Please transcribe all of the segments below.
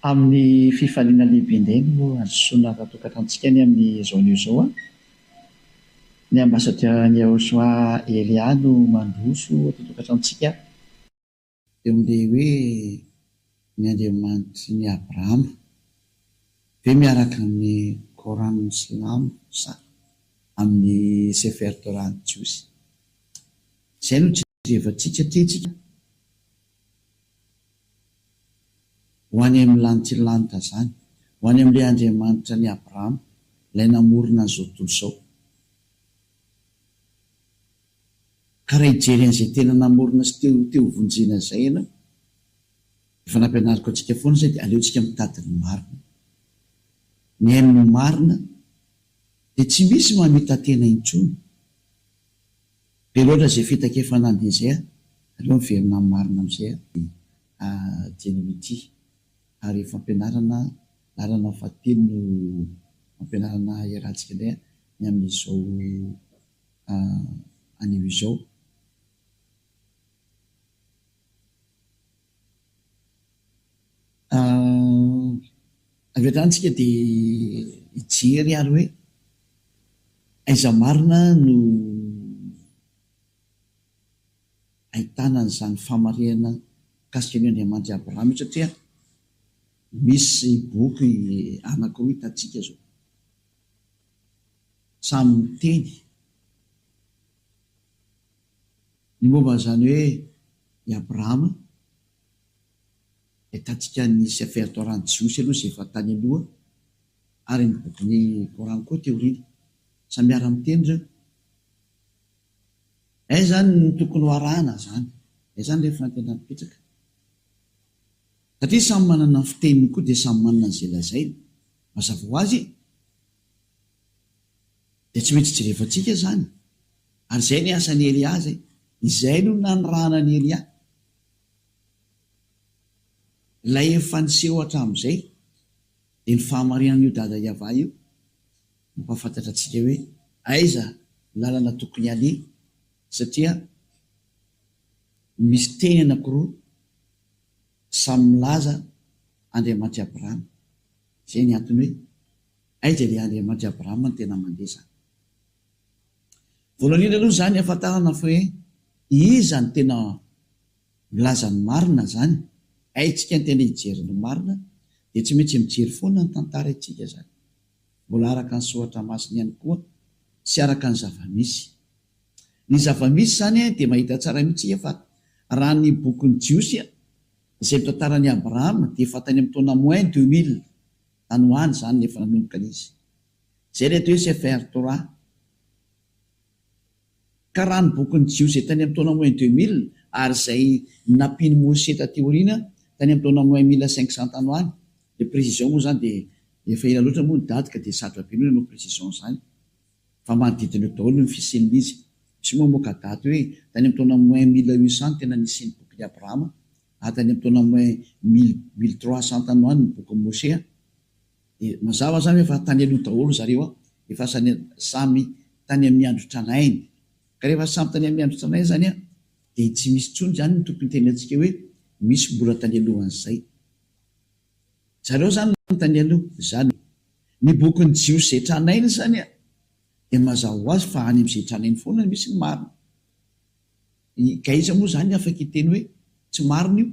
Amin'ny fifaliana lehibe indray no handrosoana ara-tokantranontsika ny amin'izao anio izao. Ny Ambasadiora Nyahoshua Elia no mandroso eto an-tokantranontsika. Dia mandeha hoe ny Andriamanitry ny Abrahama ve miaraka amin'ny Coran ny silamo sa amin'ny Sefer Torah ny jiosy? Izay no jerevantsika aty tsika ho any amin'ny lanitry ny lanitra zany, ho any amin'ilay Andriamanitra an'i Abrahama ilay namorona an'izao tontolo izao. Ka raha hijery an'izay tena namorona sy te te ho vonjena izay ianao, efa nampianariko antsika foana izay dia aleontsika mitady ny marina. Mihaino ny marina dia tsy misy mamita-tena intsony. Be loatra izay fitakefana handeha izay a! Aleo miverina amin'ny marina amin'izay a! dia adino ity ary fampianarana lalana fahatelo no ampianarana iarahantsika indray a! ny amin'izao anio izao. Avy hatrany isika dia hijery ary hoe aiza marina no ahitana an'izany fahamarinana mikasika an'io Andriamanitry Abrahama io satria misy boky anankiroa hitantsika izao. Samy miteny ny momba an'izany hoe i Abrahama, dia hitantsika ny Sefer Torah ny Jiosy aloha izay efa tany aloha ary ny bokin'ny Kor'any koa teo aoriana. Samy miara-miteny ireo. Aiza izany no tokony ho arahana izany? Aiza izany ilay fanantenana mipetraka? satria samy manana ny fiteniny koa dia samy manana izay lazainy. Mazava ho azy dia tsy maintsy jerevantsika izany. Ary izay ny asan'i Elia izay. Izay no nanirahana an'i Elia. Ilay efa niseho hatramin'izay dia ny fahamarinan'io dada Yavah io mampahafantatra antsika hoe aiza ny lalana tokony haleha satria Misy teny anakiroa samy milaza Andriamanitry Abrahama. Izay ny antony hoe aiza ilay Andriamanitry Abrahama no tena mandre izany. Voalohany indrindra aloha izany hahafantarana fa hoe iza no tena milaza ny marina izany. Haintsika ny tena hijery ny marina dia tsy maintsy mijery foana ny tantara isika izany. Mbola araka ny soratra masina ihany koa sy araka ny zava-misy. Ny zava-misy izany dia mahita tsara mihitsy isika fa raha ny bokin'ny Jiosy izay mitantara an'i Abrahama dia efa tany amin'ny taona moins deux mille tany ho any izany no efa nanomboka ny izy. Izay ilay atao hoe Sefer Torah. Ka raha ny bokin'ny Jiosy izay tany amin'ny taona moins deux mille ary izay nampian'i Moshe taty aoriana tany amin'ny taona moins mille cinq cents tany ho any, ilay précision moa izany dia efa ela loatra moa ny daty ka dia sarotra be ny hoe nanao précision izany. Fa manodidina eo daholo ny fisian'izy. Tsy moa moa ka daty hoe tany amin'ny taona moins mille huit cent no tena nisian'ny bokin'i Abrahama, ary tany amin'ny taona moins mille, mille trois cent tany ho any ny bokin'i Mosè an! Dia mazava izany hoe fa tany aloha daholo zareo an! Efa samy tany amin'ny andro tranainy. Ka rehefa samy tany amin'ny andro tranainy izany an! Dia tsy misy intsony izany ny tokony hitenenantsika hoe misy mbola tany alohan'izay. Zareo zany manontany aloha zany e! Ny bokin'ny Jiosy zay tranainy zany a! Dia mazava ho azy fa any amin'izay tranainy foana no misy ny marina. Ka aiza moa zany afaka hiteny hoe tsy marina io?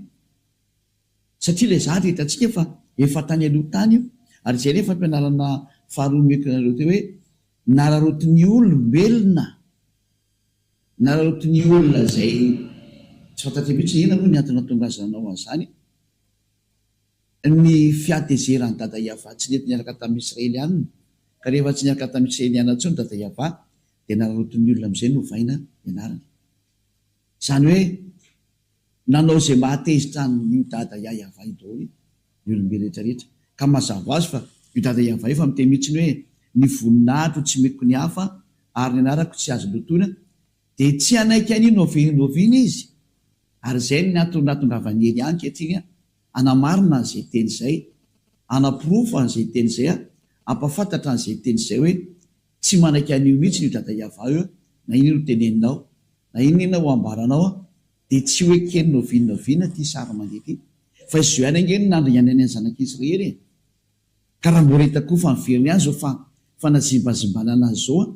Satria ilay zahatra hitantsika fa efa tany aloha tany io. Ary izay ilay fampianarana faharoa nomeko anareo teo hoe nararotin'ny olombelona, nararotin'ny olona izay tsy fantatr'I mihitsy hoe inona moa ny antony nahatonga azy nanao an'izany. ny fihatezeran'i Dada Yavah tsy nety niaraka tamin'ny Israelianina, ka rehefa tsy niaraka tamin'ny Israelianina intsony Dada Yavah, dia nanaraotin'ny olona amin'izay novaina ny anarany. Izany hoe nanao izay mahatezitra an'io Dada Ya Yavah io daholo ny olom-be rehetra rehetra. Ka mazava ho azy fa io Dada Yavah io efa miteny mihitsiny hoe, Ny voninahitro tsy meko ny hafa, ary ny anarako tsy azo lotoina, Dia tsy hanaiky an'iny ovianoviana izy, ary izay no niatondratondravan'i Hery ankehitriny an, hanamarina an'izay teny izay, hanaporofo an'izay teny izay an, hampahafantatra an'izay teny izay hoe, Tsy manaiky an'io mihitsy io Dada Yavah io an, na inona ho teneninao, na inona inona ho ambaranao an, dia tsy ho eken'ny ovianoviana ity sary mandeha ity, fa i Zohany ange no nandringanany an'i Zanak'Israely e! Ka raha mbola hita koa fa miverina ihany izao fanazimbazimbana anazy izao an,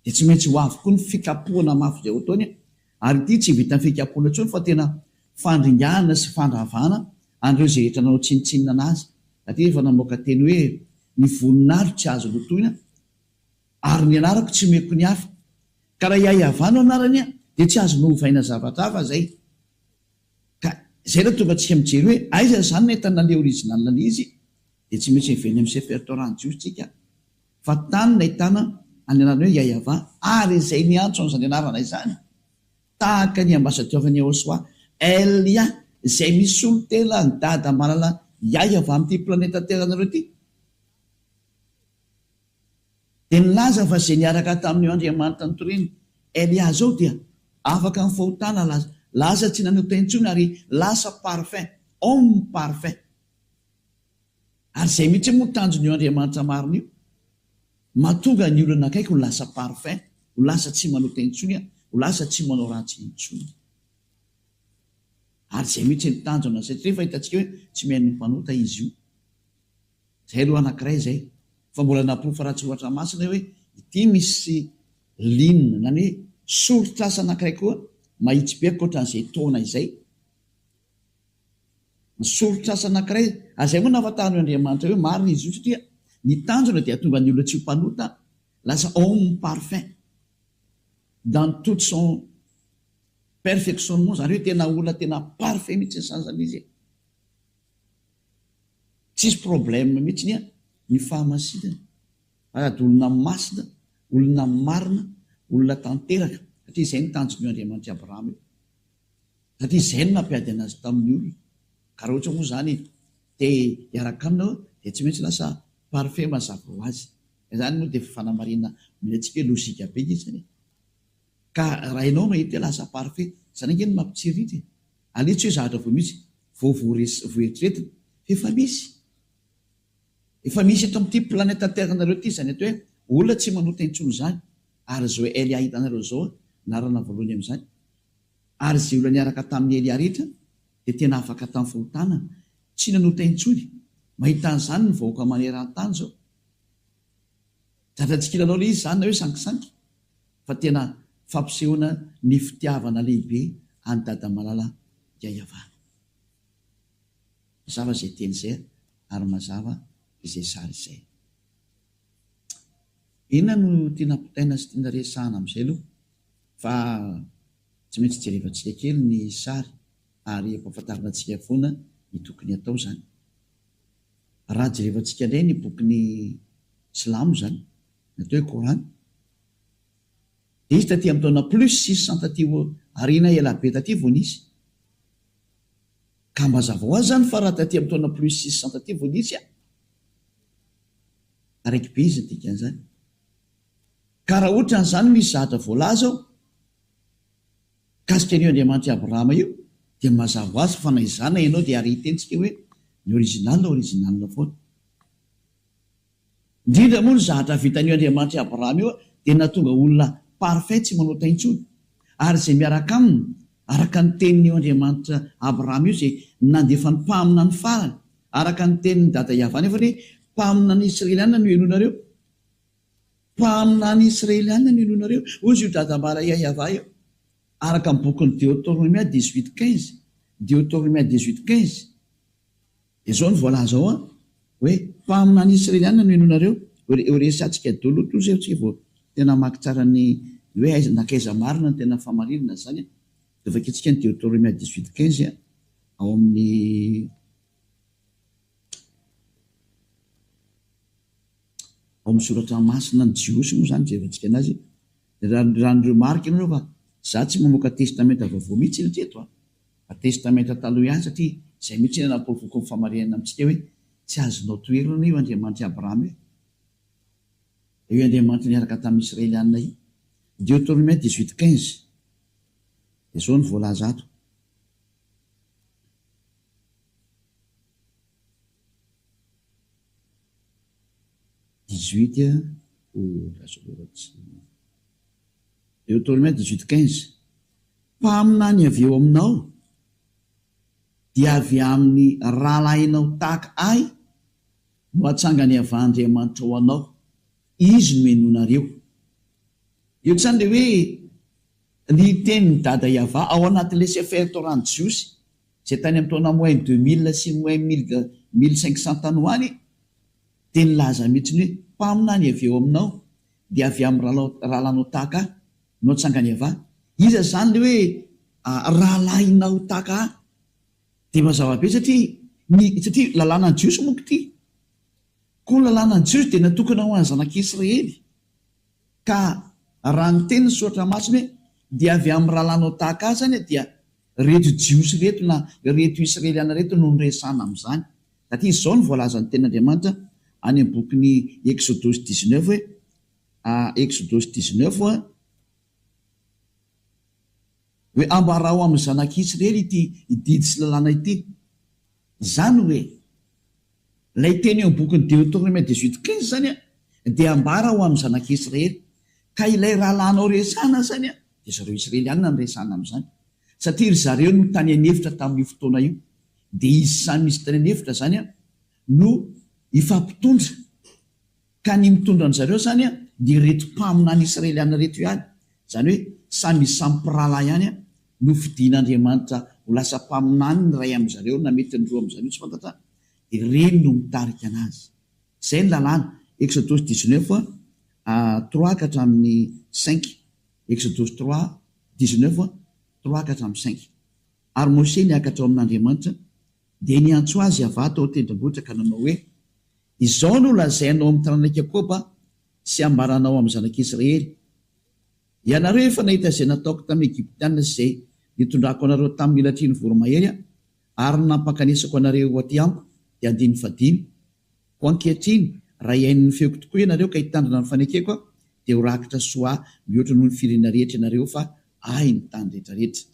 dia tsy maintsy ho avy koa ny fikapohana mafy izay ho ataony an, ary ity tsy vitan'ny fikapohana intsony fa tena fandringahana sy fandravana an'ireo izay rehetra nanao tsinontsinona anazy, na dia efa namoaka teny hoe ny voninahitro tsy azo lotoina ary ny anarako tsy omeko ny hafa, ka raha i Ayava no anarany an, dia tsy azony ovaina zavatra hafa izay. Ka izay no tonga antsika mijery hoe aiza izany ny entana le original le izy dia tsy maintsy heverina amin'ny chef rtaurant jiosy tsika fa tany no ahitana any anarana hoe yayava ary izay niantso an'izany anarana izany tahaka ny ambasadiorn'i Yahoshuah Elia izay misolo tena ny dada manana yayava amin'ity planeta teranareo ity. Dia nilaza fa izay niaraka tamin'io Andriamanitra nitoriany Elia izao dia afaka amin'ny fahotana laza, laza tsy nanota intsony ary lasa parfait, homme parfait. Ary izay mihitsy moa tanjon'io Andriamanitra marina io, mahatonga ny olona akaiky ho lasa parfait, ho lasa tsy manota intsony, ho lasa tsy manao ratsy intsony. Ary izay mihitsy ny tanjona, satria efa hitantsika hoe tsy mihaino ny mpanota izy io. Izay aloha anankiray izay. Fa mbola naporofo ratsy ohatra masina io hoe ity misy lin na ny hoe soritr'asa anankiray koa mahitsy be ankoatran'izay taona izay. Ny soritr'asa anankiray, ary izay moa no ahafantaran'io Andriamanitra io marina izy io satria ny tanjona dia hahatonga ny olona tsy ho mpanota lasa homme parfait dans toute son perfectionnement, izany hoe tena olona tena parfait mihitsy ny sasany izy e. Tsisy problème mihitsiny an ny fahamasinana ary ady olona masina, olona marina, olona tanteraka satria izay no tanjony io Andriamanitry Abrahama io satria izay no nampiady anazy tamin'ny olona ka raha ohatra moa izany te hiaraka aminy aho dia tsy maintsy lasa parfait mazava ho azy ka izany moa dia fanamarihana omentsika hoe logika be ilay izy izany e! Ka raha ianao no hahita hoe lasa parfait, izany ange no mampitsiriritra e! Aleo tsy hoe zahatra vao misy, vao voeritreretina, fa efa misy. Efa misy eto amin'ity planète terre nareo ity izany atao hoe olona tsy manota intsony izany, ary izao Elia hitanareo izao narana voalohany amin'izany, ary izay olona niaraka tamin'i Elia rehetra dia tena afaka tamin'ny fahotana, tsy nanota intsony, mahita an'izany ny vahoaka maneran-tany izao. Zatra tsy kilalao le izy zany na hoe sankisanky fa tena fampisehoana ny fitiavana lehibe an'i Dada Malala Yayavana. Mazava izay teny izay ary mazava izay sary izay. Inona no tiana ampitaina sy tiana resahana amin'izay aloha fa tsy maintsy jerevantsika kely ny sary ary ampahafantarina antsika foana ny tokony atao zany. Raha jerevantsika indray ny bokin'ny silamo izany, ny atao hoe Kor'any, dia izy taty amin'ny taona plus six cents taty aoriana ela be taty vao nisy. Ka mba hazava ho azy izany fa raha taty amin'ny taona plus six cents taty vao nisy an! Taraiky be izy ny dikan'izany. Ka raha ohatran'izany misy zavatra voalaza ao, Mikasika an'io Andriamanitr'i Abrahama io dia mazava ho azy fa na izany na ianao dia ary hitentsika hoe ny original original foana. Indrindra moa ny zahatra vitan'io Andriamanitr'i Abrahama io dia nahatonga olona parfait tsy manota intsony ary izay miaraka aminy araka ny tenin'io Andriamanitra Abrahama io izay nandefa ny mpaminany farany araka ny tenin'i Dada Yavah nefany hoe mpaminan'ny Israeliana no helohinareo Mpaminany Israeliana no inoanareo? Hoy izy, Io dadambara Iahiavà io. Araka ny bokin'i Deotornomia dix-huit quinze, Deotornomia dix-huit quinze, dia izao no voalaza ao an, hoe, Mpaminany Israeliana no inoanareo? Ho resahantsika dolo toa izay tsy vao tena hamaky tsara ny hoe aiza nankaiza marina ny tena fahamarinana izany an, dia vakintsika ny Deotornomia dix-huit quinze ao amin'ny. Ao amin'ny soratra masina ny Jiosy moa izany jerentsika anazy raha raha ny remarque nareo fa za tsy mamoaka testamenta vaovao mihitsy hatreto a! fa testamenta taloha ihany satria izay mihitsy no napovoako ny famarihanina amintsika hoe tsy azonao toherina io Andriamanitr'i Abraham io dia io Andriamanitra niaraka tamin'ny Israelianina io Deuteronomie dix huit quinze dia zao no voalaza ato Dix-huit oh la sororotse Deuteronome dix-huit quinze Mpaminany avy eo aminao dia avy amin'ny rahalahinao tahaka Ahy no hatsangany avah Andriamanitra ho anao, Izy no henoinareo. Eo izany ilay hoe ny tenin'i Dada i Avah ao anatin'ilay Sefer Torah-n'ny Jiosy. izay tany amin'ny taona moins deux mille sy moins mille mille cinq cents tany ho any, dia nilaza mihitsy ny hoe, Mpaminany avy eo aminao, dia avy amin'ny rahalahinao tahaka ahy no hatsangany avy any. Iza izany ilay hoe rahalahinao tahaka ahy? Dia mazava be satria ny, satria lalànan'ny Jiosy manko ity. Koa ny lalànan'ny Jiosy dia natokana ho an'ny zanak'Israely. Ka raha ny tenin'ny Soratra Masina hoe dia avy amin'ny rahalahinao tahaka ahy izany dia ireto Jiosy ireto na ireto Israeliana ireto no niresahana amin'izany satria izao no voalazan'ny tenin'Andriamanitra any amin'ny bokin'ny Eksodosy dix neuf hoe Eksodosy dix neuf hoe hoe ambarao amin'ny zanak'Israely ity didy sy lalàna ity izany hoe Ilay teny eo amin'ny bokin'i Deotorômia dix huit quinze izany dia ambara ho amin'ny zanak'i Israely, ka ilay rahalahinao resahana izany dia zareo Israelianina no resahana amin'izany, satria ry zareo no tany an'efitra tamin'io fotoana io, dia izy samy izy tany an'efitra izany no hifampitondra. Ka ny mitondra an'zareo zany an dia reto mpaminany Israeliana reto ihany, zany hoe samy samy mpirahalahy ihany an, nofidin'Andriamanitra ho lasa mpaminany ny ray amin'zareo na mety ny roa amin'zareo tsy fantatra, dia reny no mitarika anazy. Zay ny lalàna, Exodosy dix-neuf trois ka hatramin'ny cinq, Exodosy trois dix-neuf trois ka hatramin'ny cinq. Ary Mosè niakatra ao amin'Andriamanitra, dia niantso azy Yavah tao an-tendrombohitra ka nanao hoe, Izao no lazainao amin'ny taranak'i Jakôba sy ambaranao amin'ny zanak'Israely, Ianareo efa nahita izay nataoko tamin'ny Egyptiana sy izay nitondrako anareo tamin'ny latrian'ny voromahery aho ary ny nampankanesako anareo aty amiko, dia andininy fahadimy, Koa ankehitriny, raha hihaino ny feoko tokoa ianareo ka hitandrina ny fanekeko aho, dia ho rakitra soa ahy mihoatra noho ny firenena rehetra ianareo fa Ahy ny tany rehetrarehetra.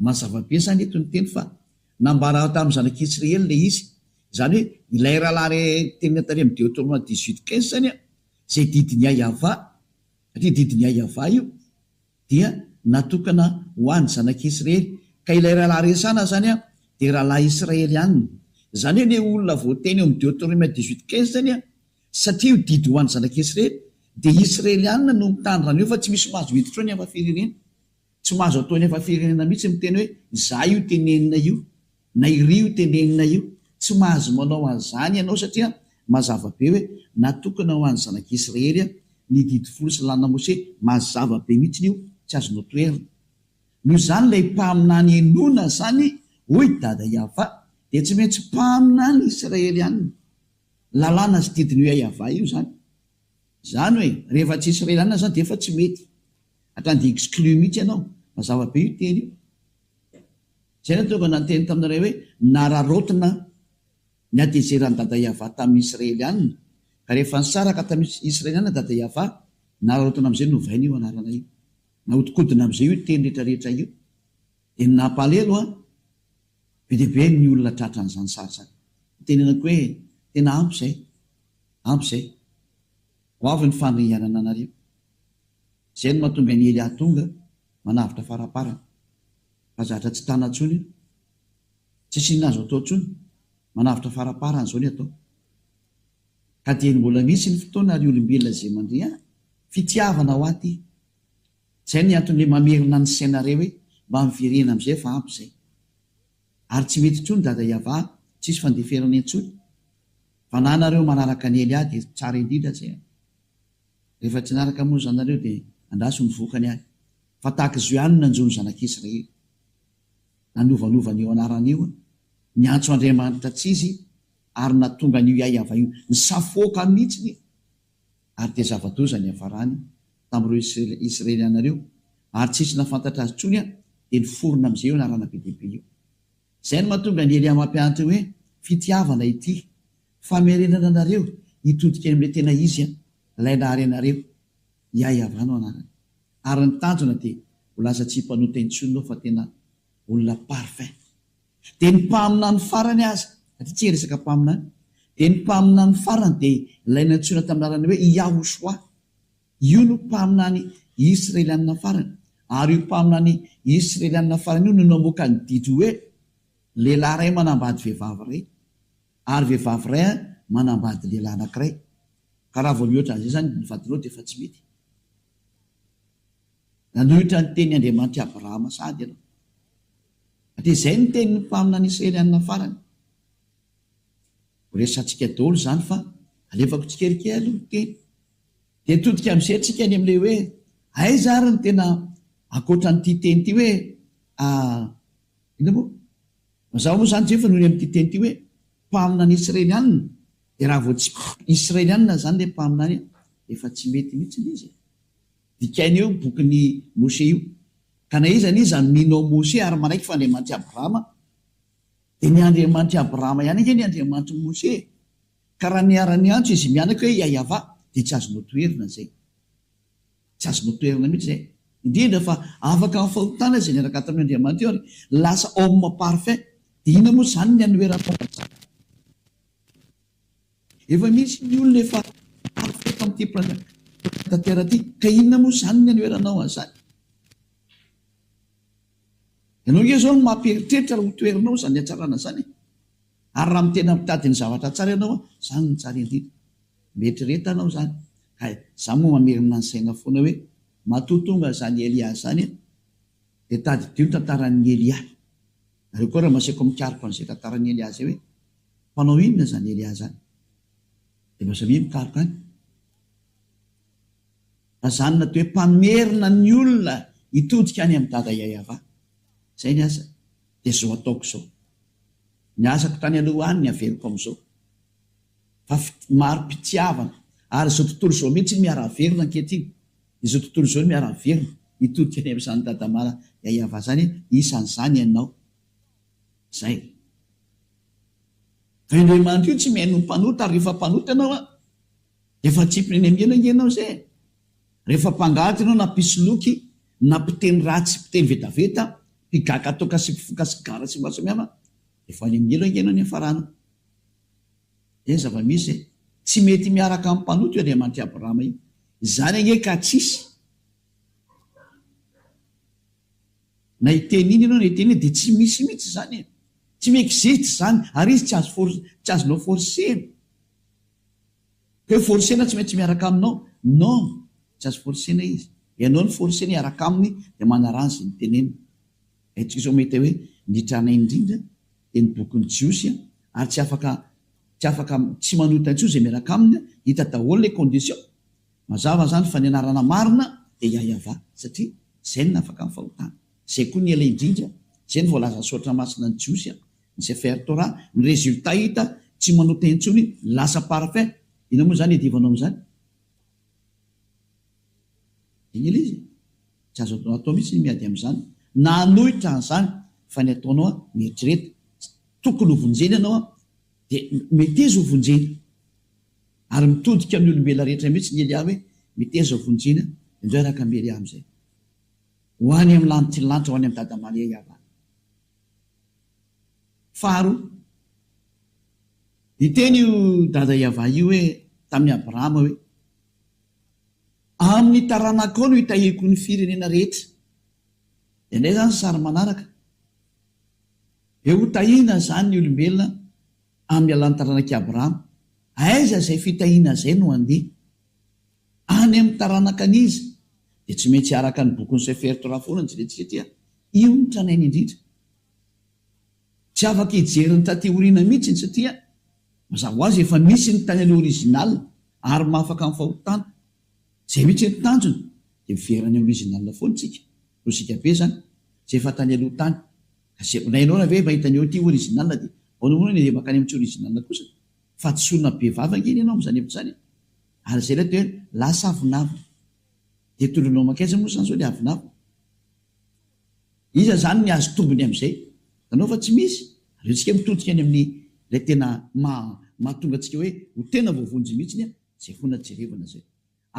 Mazava be izany eto ny teny fa nambara tamin'ny zanak'i Jisreely ilay izy. Izany hoe ilay rahalahy re tenenina tany amin'ny Deotornome dix huit quinze izany an, izay didin'i Yayava, satria didin'i Yayava io, dia natokana ho an'ny zanak'i Israely. Ka ilay rahalahy resana izany an, dia rahalahy Israelianina. Izany hoe ilay olona voateny eo amin'ny Deotornome dix huit quinze izany an, satria io didy ho an'ny zanak'i Israely, dia Israelianina no mitandrina an'io fa tsy misy mahazo hiditra ao ny hafa firenen. Tsy mahazo atao eny efa firenena mihitsy miteny hoe izaho io tenenina io na iry io tenenina io. Tsy mahazo manao an'izany ianao satria mazava be hoe natokana ho an'ny zanak'i Israely ny didy folo sy lalana Mose. Mazava be mihitsy io, tsy azonao toherina. Noho izany ilay mpaminany henoina izany hoy i Dada Yava dia tsy maintsy mpaminany Israely ihany. Lalàna sy didin'io Yava io izany. Zany oe rehefa tsy israeliana zany defa tsy mety hatrany de exclu mihitsy ianao. Mazava be io teny io. Zay natonga nanteny taminy ray oe nararaotina ny hatezeran'i Dada Yavah taminy israeliana ka rehefa nisaraka taminy israeliana Dada Yavah nararaotina amizay novaina io anarana io. Nahodikodina amizay io teny rehetra rehetra io. De ny nampalelo an be dia be ny olona tratran'izany sary zany. Itenenako oe tena ampy zay. Ampy izay. Ho avy ny fandringanana anareo. Izay no mahatonga an'i Hery hahatonga manavotra faraparany. Fa zatra tsy tana intsony io. Tsisy inona azo atao intsony. Manavotra faraparany izao ny atao. Ka dia mbola misy ny fotoana ry olombelona izay mandre ahy. Fitiavana ho ahy ity. Izay no antony hoe mamerina ny sainareo hoe mba miverena amin'izay fa ampy izay. Ary tsy mety intsony Dada Iavà, tsisy fandeferana intsony. Fa na nareo manaraka an'i Elia dia tsara indrindra aza e. Rehefa tsy naraka moa zany nareo dia andraso ny vokany any. Fa tahaka izao ihany no nanjo ny zanak'Israely. Nanovanova an'io anarana io, niantso Andriamanitra tsy izy ary nahatonga an'io Iaiavà io nisafoaka aminy mihitsiny. ary dia zava-doza niafarany tamin'ireo Isiraeliana ireo, ary tsy nisy nahafantatra azy intsony, dia niforona amin'izay io anarana be dia be io. Izay no mahatonga an'i Elia mampianatra hoe, Fitiavana ity, famerenana anareo hitodika any amin'ilay tena izy, ilay nahary anareo. Iahyavah no anarany. Ary ny tanjona dia ho lasa tsy mpanota intsony ianao fa tena olona parfait. Dia ny mpaminany farany aza, satria tsy resaka mpaminany, dia ny mpaminany farany dia ilay nantsoina tamin'ny anarana hoe Yahoshuah. Io no mpaminany Israelianina farany. Ary io mpaminany Israelianina farany io no namoaka ny didy hoe, Lehilahy iray manambady vehivavy iray, ary vehivavy iray manambady lehilahy anankiray. Ka raha vao mihoatra an'izay izany ny vadinao dia efa tsy mety. Nanohitra ny tenin'Andriamanitra Abrahama sahady ianao. Dia izay no tenin'ny mpaminany Israelianina farany. Ho resahantsika daholo izany fa alefako tsikelikely aloha ny teny. Dia hitodika amin'izay isika any amin'ilay hoe aiza ary ny tena ankoatra an'ity teny ity hoe a inona moa? Mazava moa izany Jehofa noho ny amin'ity teny ity hoe mpaminany Israelianina. Dia raha vao tsy Israelianina izany ilay mpaminany dia efa tsy mety mihitsy ilay izy e. Dikaina io bokin'i Mosesy io. Ka na iza na iza mino an'i Mosesy ary manaiky fa Andriamanitr'i Abrahama, dia ny Andriamanitr'i Abrahama ihany ange ny Andriamanitr'i Mosesy e! Ka raha niara-niantso izy mianaka hoe Iahiavà, dia tsy azonao toherina izay. Tsy azonao toherina mihitsy izay. Indrindra fa afaka amin'ny fahotana izay niaraka tamin'io Andriamanitra io ary lasa homme parfait. Dia inona moa izany ny hanoheranao an'izany? Efa misy ny olona efa afaka eto amin'ity mpanankatanteraka ity, ka inona moa izany ny hanoheranao an'izany? Ianao ange izao no mampieritreritra raha hotoherinao izany hatsarana izany e! Ary raha tena mitady ny zavatra tsara ianao, izany no tsara indrindra. Mieritrereta ianao izany, ka izaho moa mamerina ny saina foana hoe, matoa tonga izany Elia izany dia tadidio ny tantaran'i Elia. Nareo koa raha maseko mikaroka an'izay tantaran'i Elià zay hoe mpanao inona zany Elià zany de mba samia mikaroka any. Raha zany na de hoe mpamerina ny olona hitodika any amin'i Dada Yayava. Zay ny asa de zao ataoko zao. Ny asako tany aloha any ny averiko am'zao. Fa maro mpitiavana ary zao tontolo zao mihitsy miara-averina ankehitriny. Izao tontolo izao no miara-miverina, hitodika any amin'izany dadamala yayava zany isan'izany ianao zay. Vendremandry io tsy mihaino ny mpanota ary rehefa mpanota ianao an, efa atsipiny any am'ela nge ianao zay e! Rehefa mpangady ianao na mpisoloky na mpiteny ratsy, mpiteny vetaveta, mpigaka toaka sy mpifoka sigara sy maro samihafa, efa any am'ela nge ianao niafarana. Dia zava-misy e! Tsy mety miaraka amin'ny mpanota io Andriamanitr'i Abrahama io. Izany ange ka tsy hisy. Na hiteny inona ianao na hiteny inona dia tsy misy mihitsy izany e! Tsy mi-existe izany, ary izy tsy azo tsy azonao forcer-na. Ka hoe forcer-na tsy maintsy miaraka aminao. Non! Tsy azo forcer-na izy. Ianao no forcer-na hiaraka aminy dia manaraha izay noteneniny. Aitsika izao mahita hoe ny tranainy indrindra dia ny bokin'ny Jiosy ary tsy afaka tsy afaka tsy manota intsony izay miaraka aminy, hita daholo ilay condition, mazava izany fa ny anarana marina dia Yahyahavah satria izay no nafaka ny fahotana, izay koa ny ela indrindra, izay no voalazan'ny Soratra Masina ny Jiosy, ny Sefer Torah, ny résultat hita tsy manota intsony lasa parfait, inona moa izany iadivanao amin'izany? Dia niely izy. Tsy azo atao mihitsy ny miady amin'izany na hanohitra an'izany fa ny ataonao an, mieritrereta, tsy tokony ho vonjena ianao an, dia meteza ho vonjena. Ary mitodika amin'ny olombelona rehetra mihitsy ny Elia hoe meteza ho vonjena, indreo hiaraka amin'i Elia amin'izay. Ho any amin'ny lanitry ny lanitra, ho any amin'i Dada Maria Yavana. Faharoa, niteny io Dada Yavah io hoe tamin'i Abrahama hoe Amin'ny taranakao no itahiako ny firenena rehetra. Dia indray izany sary manaraka. Dia hotahina izany ny olombelona amin'ny alalan'ny taranak'i Abrahama. Aiza izay fitahiana izay no handeha? Any amin'ny taranakan'iza? Dia tsy maintsy araka ny bokin'i Sefer Torah foana ny jerentsika dia io no tranainy indrindra. Tsy afaka hijery ny taty aoriana mihitsy izy satria mazava ho azy efa nisy ny tany aloha original ary mahafaka ny fahotana. Izay mihitsy ny tanjona dia miverina any original foana isika, lojika be izany, izay efa tany aloha tany. Gazebo na ianao raha ve mahita ny eo ity original dia ahoana moa ny makany amin'ny tsy original kosa? Fahadisoana be vava ange ny ianao amin'izany hevitra izany e! Ary izay ilay atao hoe lasa avonavona. Dia tondroinao mankaiza moa izany izao ilay avonavona? Iza izany ny azo tombony amin'izay? Hitanao fa tsy misy. Ary antsika mitodika any amin'ny ilay tena maha mahatonga antsika hoe ho tena voavonjy mihitsiny an, izay foana jerevana izay.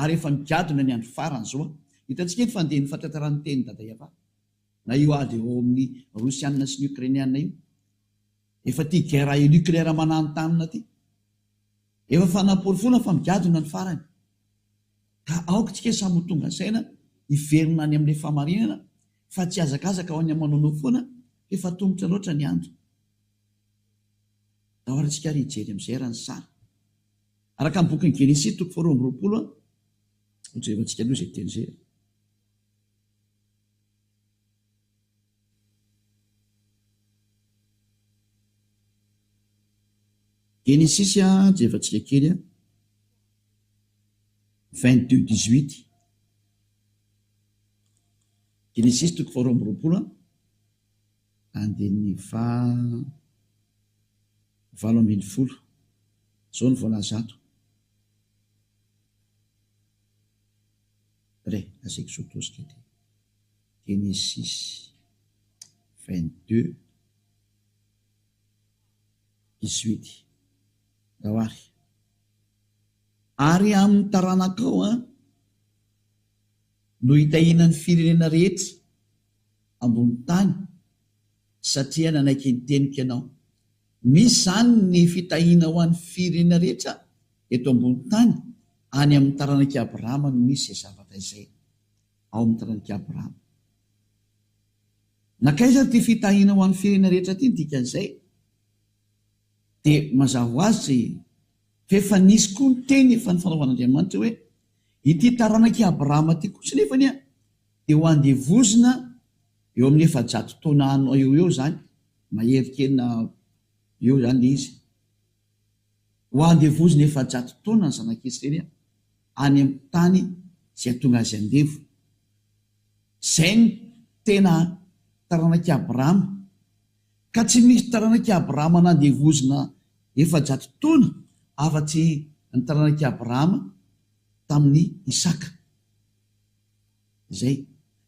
Ary efa nigadona ny andro farany izao an. Hitantsika eto fa andeha ny fahatratraran'ny tenin'i Dada Yava. Na io ady ao amin'ny Rosiana sy ny Ukrainiana io. Efa ity guerre nucléaire mananontanona ity. Efa fanaporofoana fa migadona ny farany. Ka aoka tsika samy ho tonga saina, hiverina any amin'ilay fahamarinana, fa tsy hazakazaka ho any aman'anao foana, f'efa tomotra loatra ny andro. Ahoana tsika ary hijery amin'izay ary ny sary. Araka ny bokin'i Genesia toko faharoa amby roapolo, hojerentsika aloha izay teny izay. Genesisy jerevantsika kely a! vingt deux dix huit Genesisy toko faharoa amby roapolo andininy faha valo ambin'ny folo izao no voalaza ato re! Aseiko zoto azy kely. Genesisy vingt deux dix huit Rahary ary amin'ny taranakao an no hitahiana ny firenena rehetra ambony tany satria nanaiky ny teniko ianao. Misy izany ny fitahiana ho an'ny firenena rehetra eto ambony tany, any amin'ny taranak'i Abrahama no misy izay zavatra izay. ao amin'ny taranak'i Abrahama. Nankaiza ary ity fitahiana ho an'ny firenena rehetra ity ny dikan'izay? Dia mazava ho azy fa efa nisy koa ny teny efa nifanaovan'Andriamanitra hoe, Ity taranak'i Abrahama ity kosa nefa anie dia ho andevozina eo amin'ny efajato taona any eo ho eo izany, mahery kely na eo izany ilay izy. Ho andevozina efajato taona ny zanak'i Israely any amin'ny tany izay hatonga azy andevo. Izay ny tena taranak'i Abrahama. Ka tsy misy taranak'i Abrahama nandevozina efajato taona afa-tsy ny taranak'i Abrahama tamin'i Isaka. Izay.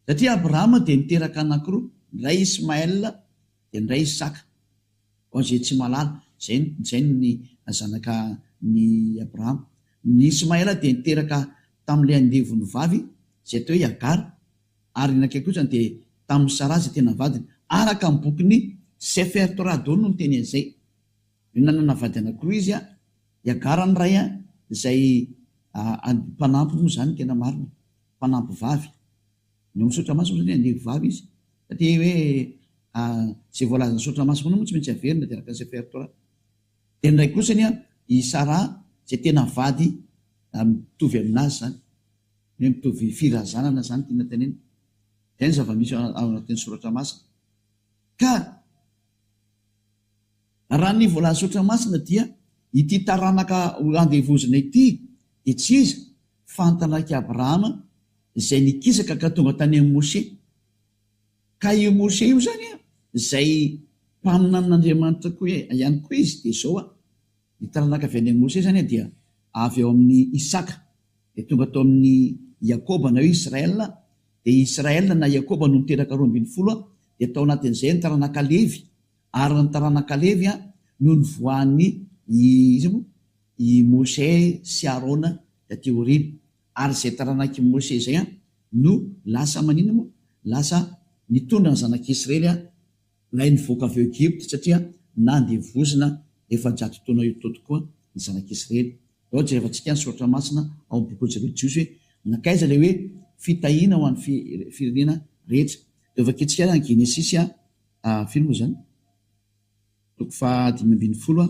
Satria Abrahama dia niteraka anankiroa, ny iray Ismaël, Dia indray izy saka. Ao izay tsy mahalala, izay izay ny zanaka ny Abrahama. Ny Ismaela dia niteraka tamin'ilay andevony vavy izay atao hoe i Agara, ary ny ankiay kosa dia tamin'i Saraha izay tena vadiny. Araka ny bokin'ny Sefer Torah daholo no miteny an'izay. Dia nanana vady anankiroa izy, i Agara ny iray, izay mpanampy moa izany ny tena marina, mpanampy vavy. Vao misaotra maso moa zany andevo vavy izy fa te hoe izay voalazan'i saotra maso foana moa tsy maintsy averina de araka ny repertoire. De ny iray kosa anie i Sara izay tena vady mitovy aminazy zany hoe mitovy firazanana zany tiana tenenina. Zay ny zava-misy ao anatin'ny soratra masina ka. Raha ny voalazon'Andriamanitra Masina dia ity taranaka ho andevozina ity dia tsy iza fa ny taranak'i Abrahama izay nikisaka ka tonga tany amin'i Mosè. Ka io Mosè io izany izay mpaminanin'Andriamanitra koa ihany koa izy dia izao a. Ny taranaka avy any amin'i Mosesy izany dia avy ao amin'i Isaka, dia tonga tao amin'i Iakoba na hoe Israela, dia Israela na Iakoba no niteraka roa ambin'ny folo, dia tao anatin'izay ny taranaka Levy, ary ny taranaka Levy no nivoahan'i, iza moa? i Mosè sy Arona taty aoriana, ary izay taranak'i Mosè izay no lasa maninona moa? lasa nitondra ny zanak'Isrely Ilay nivoaka avy ao Egypta, satria nandevozina efajato taona eo Toto koa ny zanak'Israely. Ao jerevantsika ny soratra masina ao amin'ny bokin'ny zareo Jiosy hoe nankaiza ilay hoe fitahiana ho an'ny firenena rehetra. Dia vakintsika ary any Genesisy a, firy moa izany? toko faha dimy ambin'ny folo a,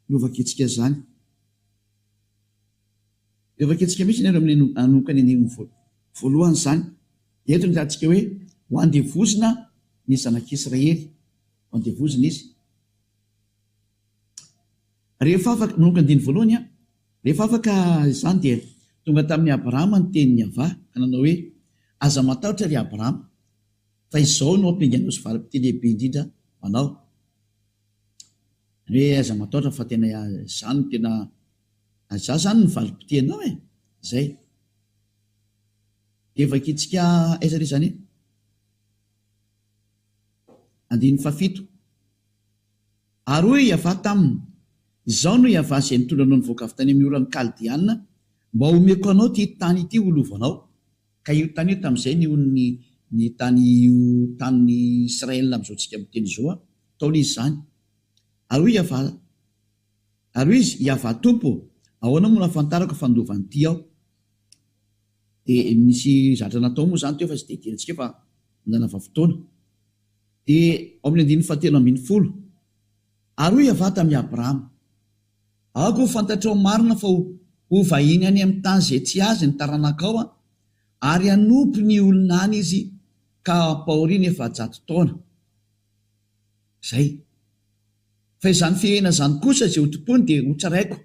no vakintsika izany. Dia vakintsika mihitsy ny ireo amin'ny nanomboka ny andininy voalohany izany. Eto ny lahatsika hoe ho andevozina ny zanak'Israely, ho andevozina izy. Rehefa afaka, manomboka ny andininy voalohany, rehefa afaka izany dia tonga tamin'i Abrahama ny tenin'i Yavah ka nanao hoe, Aza matahotra ry Abrahama, fa izao no hampiainganao sy valim-pitia lehibe indrindra ho anao. Izany hoe aza matahotra fa tena izany no tena, izany izany no valim-pitianao e, izay. Dia vakintsika aiza re izany e? Andininy fahafito. Ary hoy Iavah taminy, Izaho no Iavah izay nitondra anao nivoaka avy tany amin'ny oran'ny Kaldeanina mba homeko anao ity tany ity ho lovanao. Ka io tany io tamin'izay ny onin'ny ny tany io tanin'i Israël amin'izao tsika miteny izao a, taona izy izany. Ary hoy Iavah. Ary hoy izy, Iavah Tompo, ahoana moa no hahafantarako fa nindova an'ity aho? Dia nisy zatra natao moa izany teo fa tsy dia adinontsika eo fa nanava fotoana. Dia ao amin'ny andininy fahatelo ambin'ny folo, Ary hoy Iavah tamin'i Abrahama, Aoka ho fantatrao marina fa ho vahiny any amin'ny tany izay tsy azy ny taranakao, ary hanompo ny olona any izy ka hampahoriany efajato taona. Izay. Fa izany fihena izany kosa izay hotompoiny dia hotsaraiko,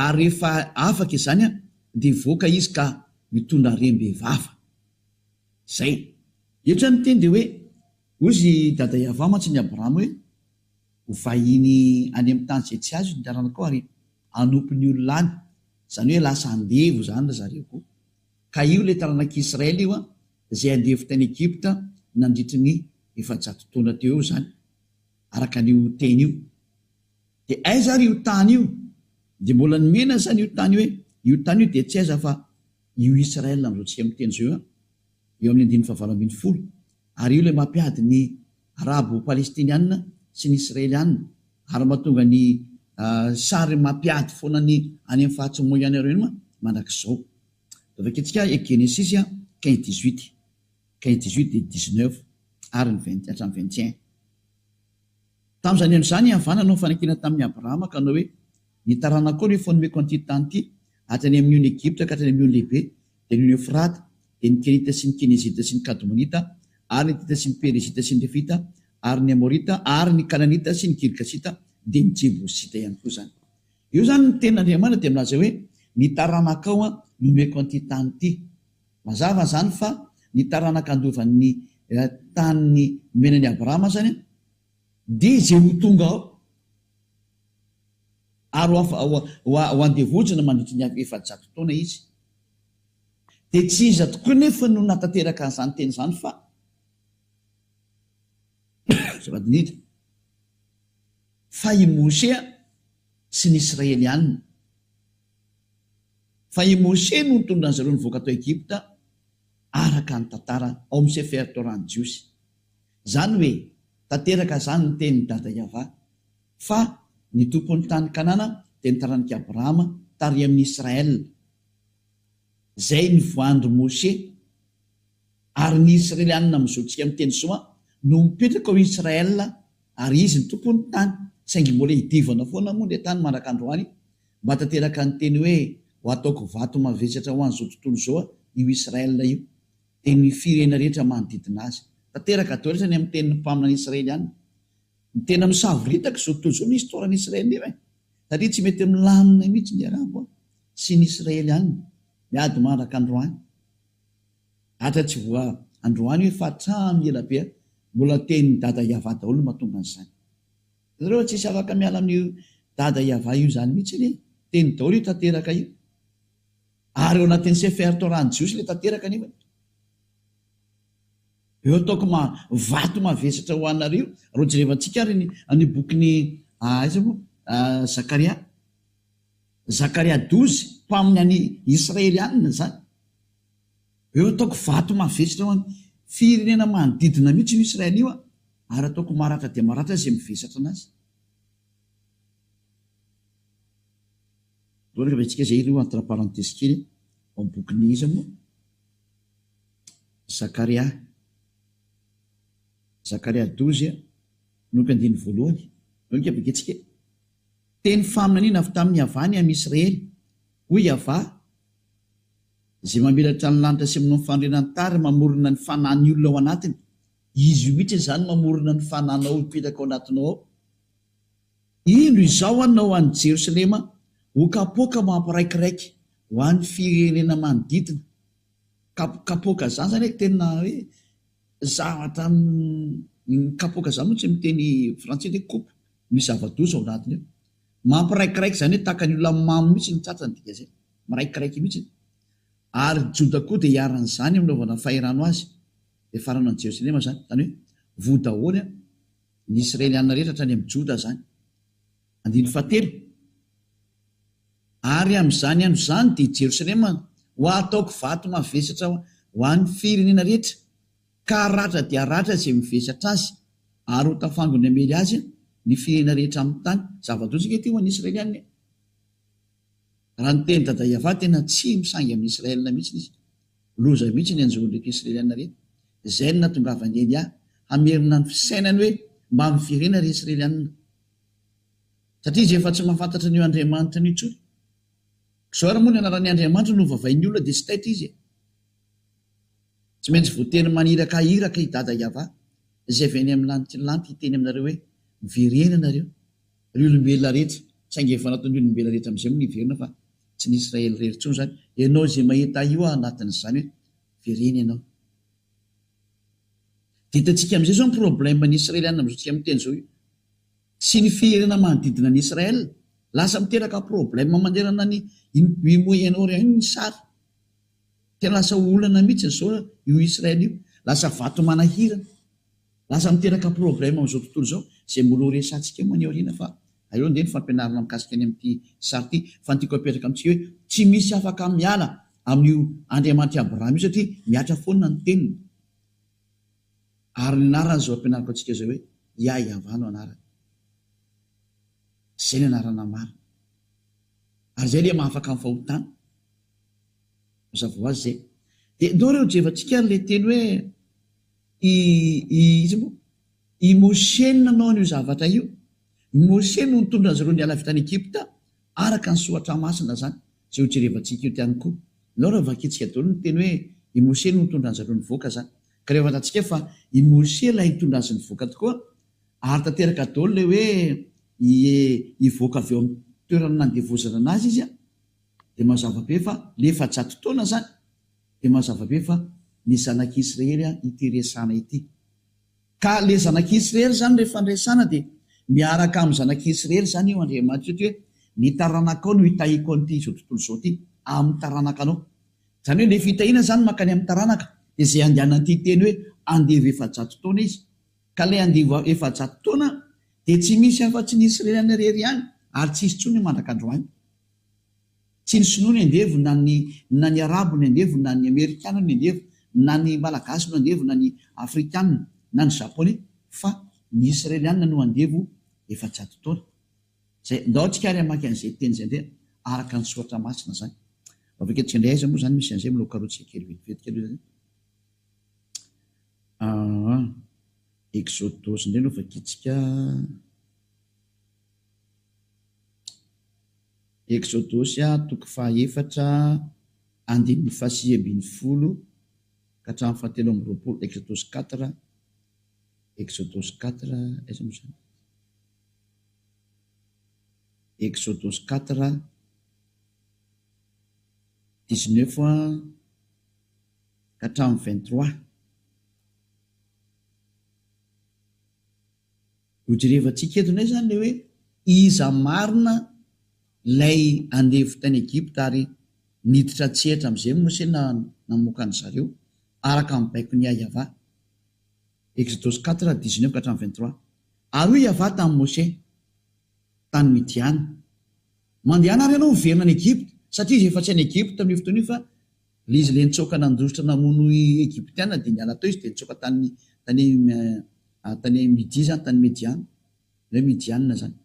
ary rehefa afaka izany aho, dia hivoaka izy ka hitondra harem-be vava. Izay. Eto izany ny teny dia hoe, Hozy i Dada Iavah mantsy an'i Abrahama hoe, Ho vahiny any amin'ny tany izay tsy azony ny taranakao ary hanompo ny olona any, izany hoe lasa andevo izany ry zareo koa. Ka io ilay taranak'i Israely io izay andevo tany Egypta nandritry ny efajato taona teo eo izany. araka an'io teny io. Dia aiza ary io tany io? Dia mbola nomena izany io tany hoe io tany io dia tsy aiza fa io Israel amin'izao tsika miteny izao io an! Eo amin'ny andininy fahavalo ambin'ny folo. Ary io ilay mampiady ny Arabo Palestiniana sy ny Israeliana ary mahatonga ny sary mampiady foana ny any amin'ny faritry Moyen-Orient mandrakizao. Dia vakintsika Genesisy quinze dix-huit. Kay dix-huit dia dix-neuf ary ny vingt hatramin'ny vingt et un. Tamin'izany andro izany i Havà nanao fanekena tamin'i Abrahama ka nanao hoe, Ny taranakao no efa nomeko an'ity tany ity, avy any amin'ny ony Egypta ka hatrany amin'ny ony lehibe, dia ny ony Eofrata, dia ny Kenita sy ny Kenizita sy ny Kadomonita ary ny Hitita sy ny Perizita sy ny Refita ary ny Amorita ary ny Kananita sy ny Girgasita, dia ny Jebosita ihany koa izany. Eo izany ny tenin'Andriamanitra dia milaza hoe, Ny taranakao no nomeko an'ity tany ity. Mazava izany fa ny taranaka handova ny tany nomena an'i Abrahama izany dia izay ho tonga ao ary ho andevozina mandritry ny efajato taona izy. Dia tsy iza tokoa anefa no nahatanteraka an'izany teny izany fa zava-dinidina fa i Mosè sy ny Israelianina. Fa i Mosè no nitondra an'izareo nivoaka tao Egypta araka ny tantara ao amin'ny Sefer Torah-n'ny Jiosy. Izany hoe tanteraka izany ny tenin'i Dada Yavah fa ny Tompon'ny tany Kanana dia ny taranik'i Abrahama tary amin'ny Israel izay nivoahan-dry Mosè. Ary ny Isrelianina amin'izao antsika miteny izao an no mipetraka ao Israel ary izy ny Tompon'ny tany saingy mbola idivana foana moa ilay tany mandraka androany Mba tanteraka ny teny hoe ho ataoko vato mavesatra ho an'izao tontolo izao io Israel io, dia ny firehena rehetra manodidina azy. Tanteraka daholo izany amin'ny tenin'ny mpaminany Israeliana. Tena misavoritaka izao tontolo izao ny histoiran'i Israel io e! Satria tsy mety milamina mihitsy ny Arabo sy ny Israeliana miady mandraka androany. Atra tsy voa androany io fa hatramin'ny ela be mbola tenin'i Dada Yavah daholo no mahatonga an'izany. Nareo tsisy afaka miala amin'io dada iavah io zany mitsy anie teny daolo io tanteraka io ary eo anatin'ny sefer torah ny jiosy le tanteraka nefa eo ataoko ma vato mavesatra ho anareo ro jerevantsika ary ny an'io bokin'ny aiza mo zakaria zakaria douze mpaminany israelianina zany Eo ataoko vato mavesatra ho an firenena manodidina mihitsy io Israel io an ary ataoko maratra dia maratra izay mivesatra anazy. Mbola revetsika izay ireo entre parenthèse kely ao amin'ny bokin'ny iza moa? Zakaria. Zakaria douze an, manomboka andininy voalohany. Manomboka ny bokintsika e. Teny faminaniana avy tamin'ny Yavah ny amin'i Israely. Hoy Yavah. Izay mamelatra ny lanitra sy manao ny fandriana ny tany ary mamorona ny fanahin'ny olona ao anatiny. Izy mihitsy izany mamorona ny fanahinao hipetraka ao anatinao ao. Indro izao an ao any Jerosalema ho kapoaka mampiraikiraiky ho an'ny firenena manodidina. Kapoka izany izany hoe tena hoe zavatra kapoka izany moa tsy miteny frantsay dia coupe. Misy zava-doza ao anatiny ao. Mampiraikiraiky, izany hoe tahaka ny olona mamo mihitsy ny tratrany, ny dikan'izay, miraikiraiky mihitsy ny. Ary Joda koa dia iharan'izany amin'ny naovana fahirano azy, dia farana an'i Jerosalema izany, izany hoe voa daholo an, ny Israeliana rehetra hatrany amin'ny Joda izany. Andininy fahatelo, Ary amin'izany andro izany dia Jerosalema ho ataoko vato mavesatra ho an'ny firenena rehetra, Ka ratra dia ratra izay mivesatra azy, ary ho tafangony hamely azy ny firenena rehetra amin'ny tany. Zava-doza ange ity ho an'ny Israelianina e! Raha ny teny Dada Iavah, tena tsy misangy amin'ny Israelina mihitsiny izy. Loza mihitsy ny anjohon'ireto Israelianina reto. Izay no nahatongavan'i Elià hamerina ny fisainany hoe mba miverena ry Israelianina. Satria izy efa tsy mahafantatra an'io Andriamanitrany io intsony. Koa izao ary moa ny anaran'ny Andriamanitra no ovavain'ny olona dia tsy taitra izy e! Tsy maintsy voateny manirakahiraka i Dada Yava, izay avy any amin'ny lanitra lanitra hiteny aminareo hoe, Miverena ianareo, ry olombelona rehetra, saingy efa nataon'ny olombelona rehetra amin'izay moa ny hiverina fa tsy ny Israely irery intsony izany. Ianao izay mahita ahy io aho anatin'izany hoe, Miverena ianao. Dia hitantsika amin'izay izao ny problème ny Israeliana amin'izao tsika miteny izao io, sy ny firenena manodidina ny Israel. Lasa miteraka problème manerana ny i Moyen-Orient io ny sary. Dia lasa ho olana mihitsy izao io Israel io. Lasa vato manahirana. Lasa miteraka problème amin'izao tontolo izao izay mbola ho resahantsika moa any aoriana fa aleo andeha ny fampianarana mikasika ny amin'ity sary ity fa ny tiako apetraka amintsika hoe tsy misy afaka miala amin'io Andriamanitr'i Abraham io satria mihatra foana ny teniny ary ny anarany izao ampianariko antsika izao hoe Iahiavah no anarany. Izay ny anarana marina. Ary izay ilay mahafaka amin'ny fahotana. Mazava ho azy izay. Dia ndao re ho jevantsika ary ilay teny hoe i, i, iza moa? I Mosè no nanao an'io zavatra io. I Mosè no nitondra azy ireo niala avy tany Egypta, araka ny Soratra Masina izany, izay ho jerevantsika eto ihany koa. Ndao re vakintsika daholo ny teny hoe i Mosè no nitondra azy ireo nivoaka izany. Ka rehefa fantatsika fa i Mosè ilay nitondra azy nivoaka tokoa, ary tanteraka daholo ilay hoe hi, hivoaka avy ao amin'ny toerana nandevozana anazy izy, Dia mazava be fa le efajato taona zany dia mazava be fa ny zanak'i Israely ity resana ity. Ka le zanak'i Israely zany rehefa niresana dia miaraka amin'ny zanak'i Israely zany io Andriamanitra eto hoe ny taranakao no hitahiako an'ity izao tontolo izao ity amin'ny taranakanao. Zany hoe le fitahiana zany mankany amin'ny taranaka dia zay andehanan'ity teny hoe andevo efajato taona izy. Ka le andevo efajato taona dia tsy misy afa-tsy ny Israeliana rery ihany ary tsy hisy tsony mandraka androany. Tsy ny sinoa ny andevo na ny na ny arabo ny andevo na ny amerikana ny andevo na ny malagasy no andevo na ny afrikana na ny japoney fa ny israeliana no andevo efajato taona zay ndao tsika ary hamaky an'izay teny zay ndray araka ny soratra masina zany vavaketsika ndray aiza moa zany misy an'izay mbola karohitsika kely vetivety kely zany aa exodosy ndray no vakitsika Eksodosy toko fahaefatra andininy fahasivy ambin'ny folo ka hatramin'ny fahatelo amby roapolo Eksodosy quatre Eksodosy quatre aiza moa izany Eksodosy quatre dix neuf ka hatramin'ny vingt trois. Ho jerevantsika eto indray izany ilay hoe iza marina ilay andevo tany Egypta ary niditra an-tsehatra amin'izay Mosè na namoaka an-dry zareo araka ny baikon'i Yahavah. Exodus quatre, dix neuf ka hatramin'ny vingt trois. Ary hoy Yahavah tamin'i Mosè tany Midiana, Mandehana ary ianao hiverina any Egypta, satria izy efa tsy any Egypta amin'io fotoana io fa Ilay izy ilay nitsoaka nandositra namono i Egyptiana dia niala tao izy dia nitsoaka tany tany tany Midia izany tany Mediana na hoe Midiana izany.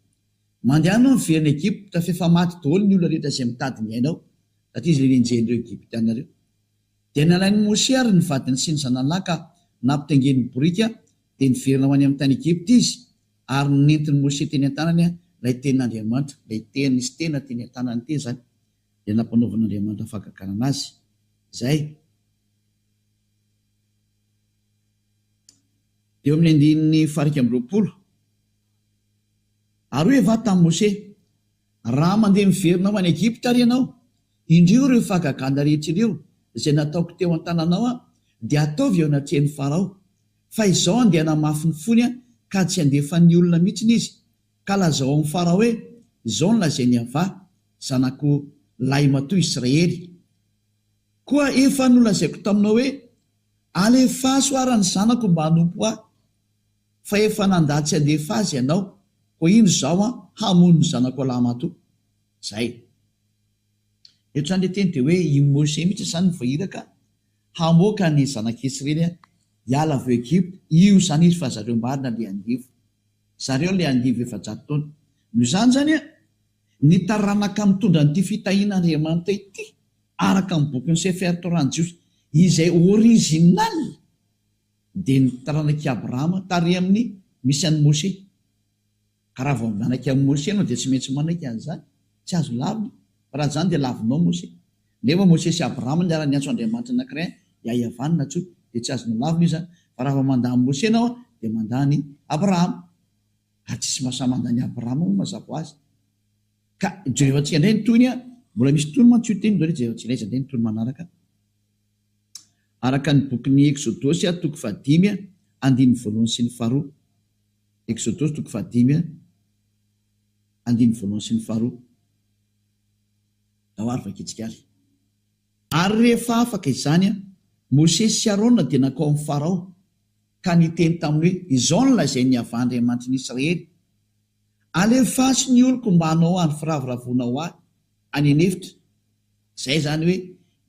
Mandehana ao niverina Egypta f'efa maty daholo ny olona rehetra izay mitady ny aina ao satria izy ilay nenjehin'ireo Egyptiana ireo. Dia nalain'i Mosè ary ny vadiny sy ny zanany lahy ka nampitaingeniny boriky dia niverina ho any amin'ny tany Egypta izy ary nentin'i Mosè teny an-tanany ilay tenin'Andriamanitra, ilay teny sy tena teny an-tanany teny izany. dia nampanaovin'Andriamanitra fahagagana anazy izay. Teo amin'ny andininy faha iraika amby roapolo. Ary hoy Evaha tamin'i Mose, Raha mandeha miverina ho any Egypta àry ianao, indrio ireo fahagagana rehetra ireo izay nataoko teo an-tananao aho, dia ataovy eo anatrehan'i Farao. Fa izao andeha hanamafy ny fony aho, ka tsy handefa ny olona mihitsy izy, Ka lazao amin'i Farao hoe, 'Izao no lazain'i Yavah, Zanako lahimatoa Israely, Koa efa nolazaiko taminao hoe, Alefaso àry ny zanako mba hanompo ahy, fa efa nandà tsy handefa azy ianao, koa indro izaho hamono ny zanako lahimatoa. Izay. Eto izany ilay teny dia hoe i Mosè mihitsy izany no voairaka hamoaka ny zanak'i Israely hiala avy ao Egypta, io izany izy fa zareo marina ilay andevo. zareo le andivo efajato taona. Noho izany zany a, ny taranaka mitondra an'ity fitahian'Andriamanitra ity, araka ny bokin'i Sefer Torah ny Jiosy, izay original dia ny taranak'i Abrahama tary amin'ny misy an'i Moshe. Ka raha vao mianaka amin'i Moshe ianao dia tsy maintsy manaiky an'izany. Tsy azo lavina, fa raha tsy izany dia lavinao Moshe. Nefa Mosesy sy Abrahama niara niantso Andriamanitra anankiray an, dia Iavan natsoiny, dia tsy azo nolavina izy an, fa raha vao mandà an'i Mosesy ianao an, dia mandà an'i Abrahama. Ary tsy misy mahasahy mandà an'i Abrahama moa mazava ho azy. Ka Jehovatsika indray ny tohiny an, mbola misy tohiny mantsy io teny io hoe Jehovatsika indray izay indray ny tohiny manaraka an. Araka ny bokin'ny Eksodosy an, toko fahadimy an, andininy voalohany sy ny faharoa. Eksodosy toko fahadimy an, andininy voalohany sy ny faharoa. ao ary vakitsika ary. Ary rehefa afaka izany an, Mosesy sy Arona dia nankao amin'i Farao ka niteny taminy hoe, Izao no lazain'i Yaveh Andriamanitrin'i Israely, Alefaso ny oloko mba hanao any firavoravoana ho ahy any an'efitra. Izay izany hoe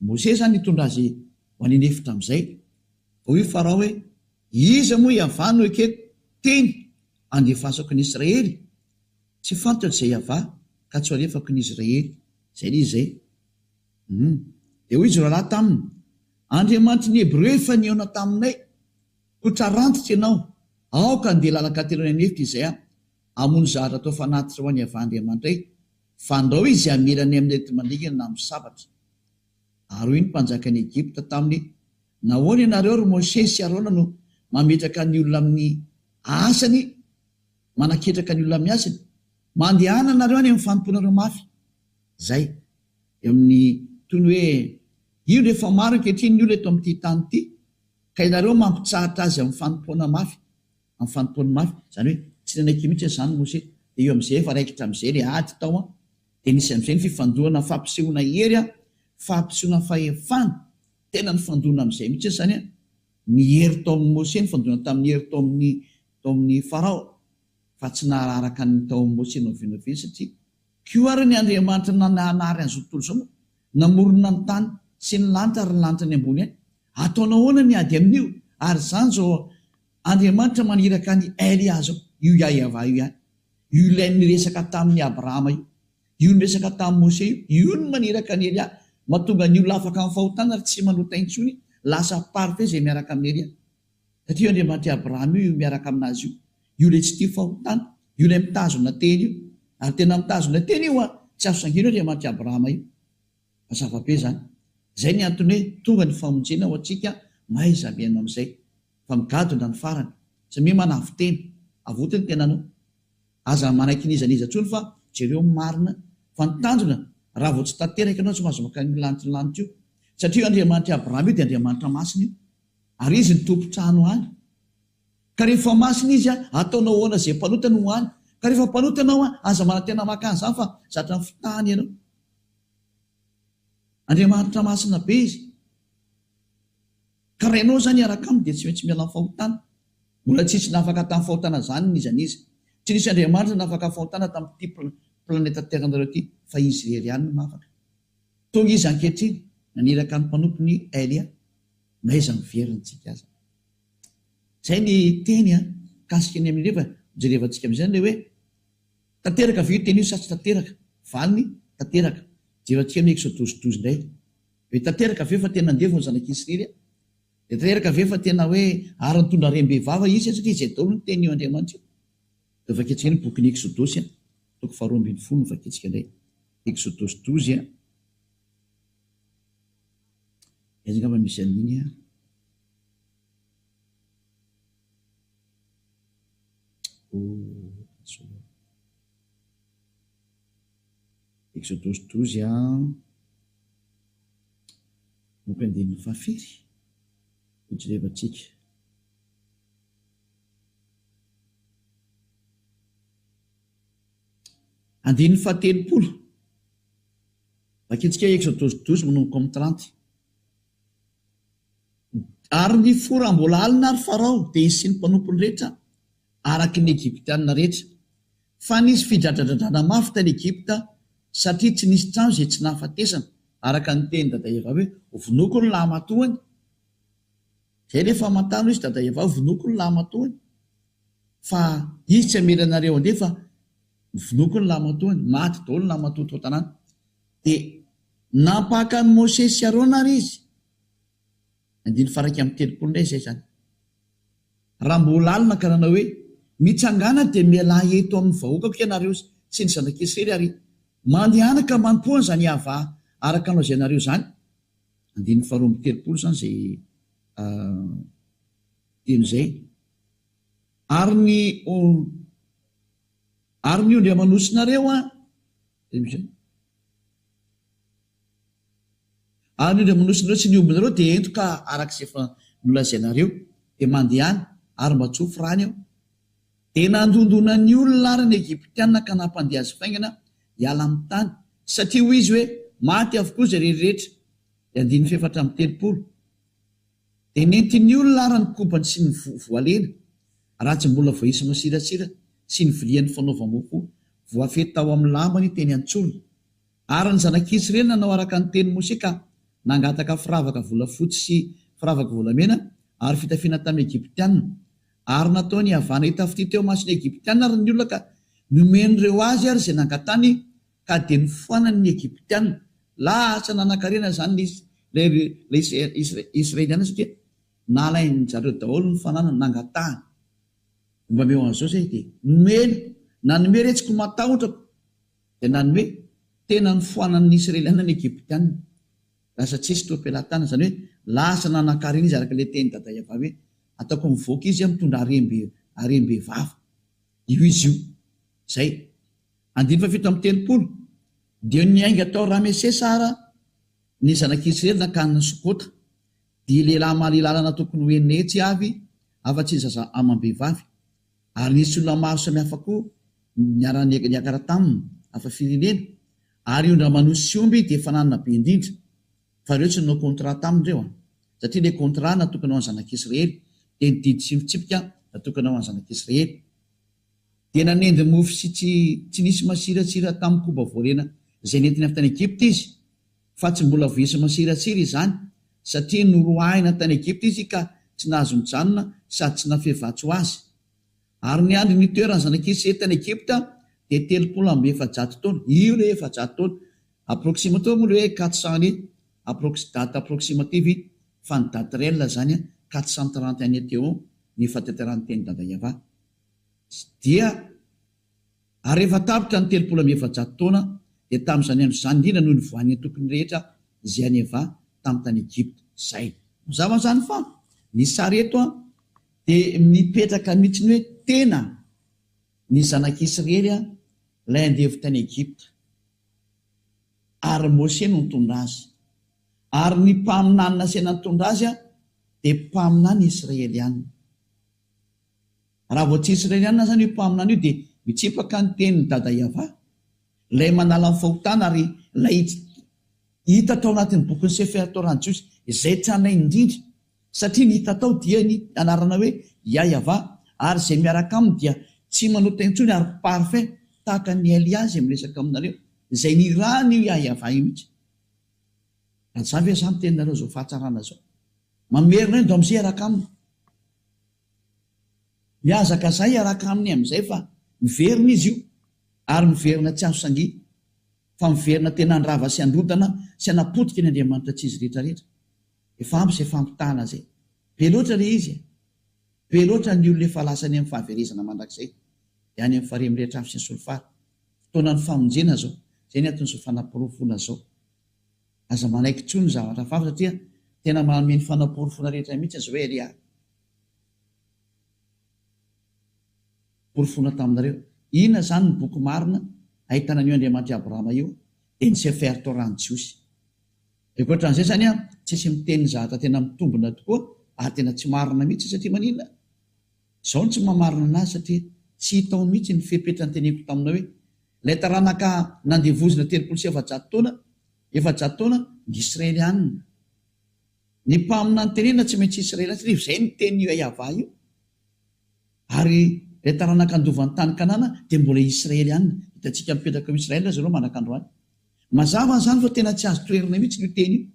Mosesy izany nitondra azy ho any an'efitra amin'izay. Dia hoy Farao hoe, Iza moa Yaveh no ekeko teny handefasako ny Israely? Tsy fantatro izay hiavaha ka tsy ho alefako ny Israely. Izay ilay izy e! Humm. Dia hoy izy roalahy taminy, Andriamanitry ny Hebreo efa nihaona taminay, koa trarantitra ianao, aoka handeha lalan-kateloana any efitra izay aho, hamono zahatra atao fanatitra ho an'i Yavah Andriamanitra ay, fa andao izy hamela ny amin'ireto mandringana na misabatra. Ary hoy ny mpanjakan'i Egypta taminy, Nahoana ianareo, ry Mosesy sy Arona, no mametraka ny olona amin'ny asany? Manaketraka ny olona miasina. Mandehana nareo any amin'ny fanompoanareo mafy. Zay. Eo amin'ny toy ny hoe indro efa maro ankehitriny ny olona eto amin'ity tany ity ka ianareo mampitsahatra azy amin'ny fanompoana mafy, amin'ny fanompoany mafy. Izany hoe tsy nanaiky mihitsy izany i Mose. Dia eo amin'izay efa raikitra amin'izay ilay ady tao an. Dia nisy amin'izay ny fifandoana fampisehoana hery an, fampisehoana fahefana. Tena nifandoana amin'izay mihitsy izany an. Ny hery tao amin'i Mose nifandoana tamin'ny hery tao amin'ny tao amin'i Farao, fa tsy nahararaka ny tao amin'i Mosesy novenoveniny satria koa ary ny Andriamanitra nananary an'izao tontolo izao moa namorona ny tany sy ny lanitra ary ny lanitra any ambony any, ataonao ahoana ny ady amin'io ary izany izao Andriamanitra maniraka an'i Elia izao, io Yahvah io ihany, io ilay niresaka tamin'i Abrahama io, io niresaka tamin'i Mosesy io, io no maniraka an'i Elia, mahatonga ny olona afaka amin'ny fahotana ary tsy manota intsony, lasa parfait izay miaraka amin'i Elia. Taty io Andriamanitra i Abraham io, io miaraka aminazy io. Io ilay tsy tia fahotana. Io ilay mitazona teny io. Ary tena mitazona teny io an! Tsy azo sangio io Andriamanitra i Abraham io. Mazava be izany. Izay ny antony hoe tonga ny famonjena ho antsika mahaiza mihaino an'izay. Fa migadona ny farany. Samia manavotena. Avoty ny tenanao. Aza manaiky n'iza n'iza intsony fa jereo ny marina. Fa ny tanjona, raha vao tsy tanteraka ianao tsy mahazo makany lanitra lanitra io. Satria io Andriamanitra i Abraham io dia Andriamanitra masina io. Ary izy ny tompon-trano any. Ka rehefa masina izy, ataonao ahoana izay mpanota no ho any? Ka rehefa mpanota ianao, aza manantena maka an'izany fa zatra fitahana ianao. Andriamanitra masina be izy. Ka raha ianao izany hiaraka aminy dia tsy maintsy miala amin'ny fahotana. Mbola tsy nisy nafaka tamin'ny fahotana izany n'iza n'iza. Tsy nisy andriamanitra nafaka fahotana tamin'ity planeta Terre anareo ity fa izy irery ihany no nafaka. Tonga izy ankehitriny naniraka ny mpanompony Elia. N'aiza no very ny tsika aza. Zay ny teny a mikasika ny amin'ireo fa jerevantsika amizay le hoe tanteraka ve io teny io sa tsy tanteraka? Valiny, tanteraka. Jerevantsika ny exodus douze ndray hoe tanteraka ve fa tena nandevo ny zanak' Isrery a? De tanteraka ve fa tena hoe ary nitondra harem-be vava izy a? Satria zay daolo ny teny io Andriamanitra io. De vakiantsika ndray ny bokin'ny exodosy a, toko faharoa ambin'ny folo no vakiantsika ndray. Exodus douze a. Aiza angamba misy an'iny an! Exodus douze an! Boky andininy fahafiry no jerevantsika? Andininy fahatelopolo. Mankitsika Exo douze douze Minomboko amin'ny trente Ary ny fo raha mbola alina ary Farao dia hisian'ny mpanompony rehetra araka ny Egyptiana rehetra Fa nisy fidradradradrana mafy tany Egypta satria tsy nisy trano izay tsy nahafatesana araka ny tenin'i Dada Eva hoe Vonoiko ny lahimatoany Izay ilay famantana hoe izy Dada Eva hoe Vonoiko ny lahimatoany Fa izy tsy hamela anareo handeha fa vonoiko ny lamatoany, maty daholo ny lamatoa tao an-tanàna. Dia nampaka an'i Mosesy sy Arona àry izy. Andininy faha iraika amby telopolo indray izay izany. Raha mbola alina ka nanao hoe, Mitsangàna dia mialà eto amin'ny vahoakako ianareo sy ny zanak'Israely ary mandehana ka manompoa an'izany Yavah araka ny lazainareo izany. Andininy faha roa amby telopolo izany izay teny izay. Ary ny Ary ny ondry aman'osinareo an. Ary ny ondry aman'osinareo sy ny ombinareo dia ento ka araka izay efa nolazainareo dia mandehana ary mba tsofy rany eo. Dia nandondona ny olona ary ny Egyptiana ka nampandeha azy faingana hiala amin'ny tany, satria hoy izy hoe, Maty avokoa izay rery rehetra. Dia andininy fahefatra amby telopolo. Dia nentin'ny olona ary ny kobany sy ny voalena, raha tsy mbola voaisa masiratsira, sy ny viliany fanaovam-mofo voafehy tao amin'ny lambany teny an-tsorony. Ary ny zanak'i Israely nanao araka ny tenin'i Mosè ka nangataka firavaka volafotsy sy firavaka volamena ary fitafiana tamin'ny Egyptiana. Ary nataony havana hitafitia teo imason'ny Egyptiana ary ny olona ka nomen'ireo azy ary izay nangatany ka dia nofoanany ny Egyptiana. Lasa nanankarena izany ilay Israeliana satria nalain-dry zareo daholo ny fananany, nangatahany. Mba meo an'izao izay dia nomeny, nanome re tsy ko matahotrakoo, dia nanome, tena nofoanan' ny Israeliana ny Egyptiana. Lasa tsisy toa pelatana, izany hoe lasa nanankarena izy araka ilay teny Dada Eva hoe, ataoko mivoaka izy aho mitondra harem-behivavy. Io izy io. Izay. Andiany fahafito amby telopolo dia niainga tao Ramesesa ara ny zanak'i Israely nankany Sokota, dia lehilahy mahaleo lalana tokony ho enina hetsy avy afa-tsy ny zaza amam-behivavy. Ary nisy olona maro samihafa koa niara-niakara taminy, hafa firenena, ary ondra manosy sy omby dia fananana be indrindra, fa ireo tsy nanao contrat taminy ireo an! satria ilay contrat natokana ho an'ny zanak'i Israely dia ny didy sy ny fitsipika natokana ho an'ny zanak'i Israely. Dia nanendry mofo sy tsy tsy nisy masiratsira tamin'ny koba voalena izay nentiny avy tany Egypta izy, fa tsy mbola voaisa masiratsira izany, satria noroahina tany Egypta izy ka tsy nahazo mijanona sady tsy nafehy vatsy ho azy. Ary niandry ny toeran'ny zanak'Israely tany Egypta dia telopolo amby efajato taona. Io ilay efajato taona. Approximato moa ilay hoe quatre cents années, approx, date approximative iny, fa ny date réelle izany an, quatre cent trente années teo ny fahatantaran'ny tenin'i Dada Yavah. Tsy dia. Ary rehefa tapitra ny telopolo amby efajato taona, dia tamin'izany andro izany indrindra no nivoahan'ny antokony rehetra izay an'i Eva tamin'ny tany Egypta. Izay. Mazava izany fa ny sary eto dia mipetraka mihitsy ny hoe tena ny zanak'Israely ilay andevo tany Egypta, ary Mose no nitondra azy. Ary ny mpaminany nasaina nitondra azy dia mpaminany Israeliana. Raha vao tsy Israelianina izany io mpaminany io dia mitsipaka ny tenin'i Dada Yavah, Ilay manala ny fahotana ary Ilay hita tao anatin'ny bokin'ny Sefer Torah-n'ny Jiosy izay tranainy indrindra, satria ny hita tao dia ny anarana hoe Yah Yavah, ary izay miaraka aminy dia tsy manota intsony ary parfait, tahaka an'i Elia izay miresaka aminareo, izay nirahan'io Yah Yavah io mihitsy. Raha tsy izany ve izany ny teninareo izao fahatsarana izao? Mamerina eo Dom Zé hiaraka aminy. Mihazakazà hiaraka aminy amin'izay fa miverina izy io, ary miverina tsy azo sangiana, fa miverina tena handrava sy handrodana sy hanapotika ny andriamanitra tsy izy rehetrarehetra. Efa ampy izay fampitahana izay. Be loatra ilay izy e! Be loatra ny olona efa lasa any amin'ny fahaverezana mandrakizay, dia any amin'ny farihy mirehitra afo sy ny solifara. Fotoanan'ny famonjena izao. Izay ny anton'izao fanaporofoana izao. Aza manaiky intsony ny zavatra faly satria tena manome ny fanaporofona rehetra mihitsy aza hoe ry ahy. Porofoina taminareo. Inona izany ny boky marina ahitana an'io Andriamanitr'i Abrahama io dia ny Sefer Torah-n'ny Jiosy. Dia ankoatran'izay izany an, tsisy miteny ny zavatra tena mitombina tokoa ary tena tsy marina mihitsy satria maninona? Izaho no tsy maha marina anazy satria tsy hita ao mihitsy ny fepetra noteneniko taminao hoe Ilay taranaka nandevozina telopolo sy efajato taona, efajato taona, ny Israelianina. Ny mpaminany tenenina tsy maintsy Israelianina satria izay no tenin'io Yahavah io. Ary ilay taranaka handova ny tany Kanana dia mbola Israelianina. Hitantsika mipetraka ao Israel ry zareo mandraka androany. Mazava izany fa tena tsy azo toherina mihitsy io teny io.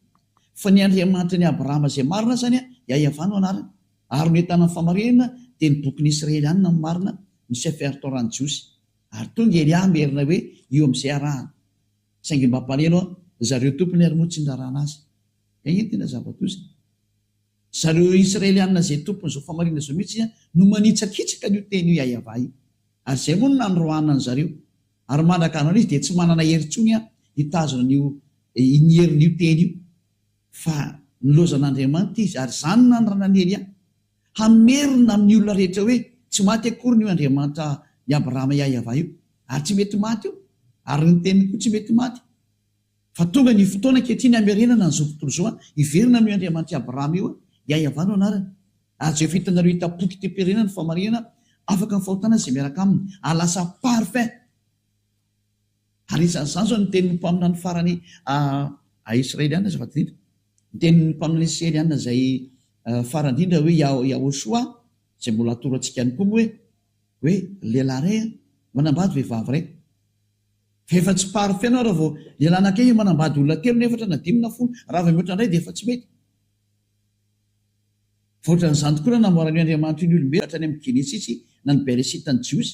Fa ny Andriamanitra ny Abrahama izay marina azany, Yahavah no anarany. Ary no entana amin'ny famarinana dia ny bokin'ny Israelianina no marina, ny Sefer Torah-n'ny Jiosy. Ary tonga ery aho merina hoe io amin'izay arahana. Saingy mba hampaneno an, ry zareo tompony ary moa tsy niraràna azy. Dia iny tena zava-doza. Ry zareo Israelianina izay tompon'izao fahamarinana izao mihitsy no manitsakitsaka an'io teny io Iahiavà io. Ary izay moa no nanoroahana an-dry zareo. Ary mandrak'andro anio izy dia tsy manana hery intsony an, hitazona an'io, ny herin'io teny io. Fa nilaozan'Andriamanitra izy, ary izany no nanirana an'i Elia. Hamerina amin'ny olona rehetra hoe tsy maty akoriny io Andriamanitra i Abrahama Iahiavah io, ary tsy mety maty io, ary ny Teniny koa tsy mety maty. Fa tonga ny fotoana ankehitriny hamerenana an'izao tontolo izao an, hiverina amin'io Andriamanitra i Abrahama io an, Iahiavah no anarany. Ary Jehovah hitanareo hitapoky temperena ny famarihana afaka ny fahotana izay miaraka aminy, ary lasa parfait. Anisan'izany izao ny tenin'ny mpaminany farany Israeliana izay faradidrindra. Ny tenin'ny mpaminany Israeliana izay farandrindra hoe Yahoshua izay mbola atoro antsika ihany koa moa hoe hoe lehilahy iray manambady vehivavy iray. Rehefa tsy parfait ianao raha vao lehilahy anankiray manambady olona telo na efatra na dimy na folo raha vao mihoatra indray dia efa tsy mety. Fa ohatran'izany tokoa no namboaran'io Andriamanitra io ny olombelona hatrany amin'ny Genesisy na ny Beresita ny Jiosy.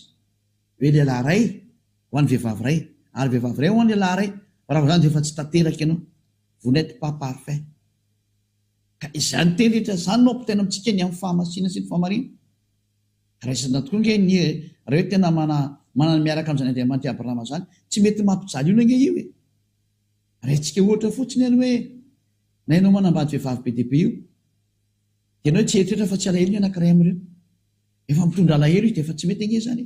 Hoe lehilahy iray ho an'ny vehivavy iray, ary vehivavy iray ho an'ny lehilahy iray, fa raha vao izany dia efa tsy tanteraka ianao, vous n'etes pas parfait. Ka izany teny rehetra izany no ampitaina amintsika ny amin'ny fahamasina sy ny fahamariana. Raisina tokoa ange ny eh, raha hoe tena mana, manana miaraka amin'izany Andriamanitra i Abrahama izany, tsy mety mampijaly olona ange io e. Raisintsika ohatra fotsiny ary hoe na ianao manambady vehivavy be dia be io, dia ianao tsy hieritreritra fa tsy alahelo ny anankiray amin'ireo. Efa mitondra alahelo izy dia efa tsy mety ange izany e!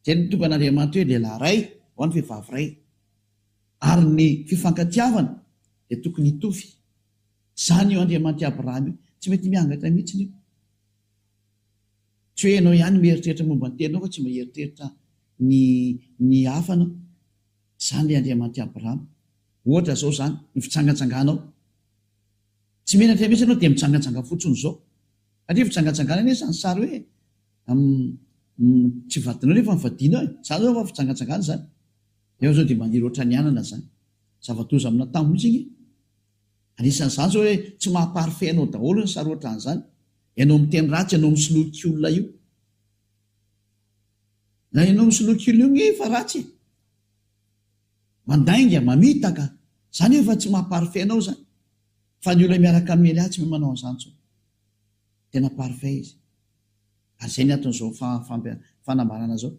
Izay no nitongan'Andriamanitra hoe lehilahy iray ao ny vehivavy iray. Ary ny fifankatiavana dia tokony hitovy. Izany io Andriamanitry Abraham io tsy mety miangatra mihitsiny io. Tsy hoe ianao ihany mieritreritra momba ny teninao fa tsy mba hieritreritra ny ny hafa ianao. Izany ilay Andriamanitry Abraham. Ohatra izao izany ny fitsangatsanganao. Tsy menatra mihitsy ianao dia mitsangantsanga fotsiny izao. Satria fitsangantsangana anie izany sary hoe tsy vadinao nefa ny vadianao e. Izany izao efa fitsangantsangana izany. Ianao izao dia maniry ohatran'ny anana izany. Zava-doza amina tany mihitsy anie. Anisan'izany izao hoe tsy maha parfait anao daholo ny sary ohatran'izany. Ianao miteny ratsy, ianao misoloky olona io. Na ianao misoloky olona io ange efa ratsy e. Mandainga, mamitaka, zany efa tsy maha parfait anao zany fa ny olona miaraka amin'i Elia tsy mahay manao an'izany tsony. Tena parfait izy. Ary zay ny anton'izao fanambarana zao.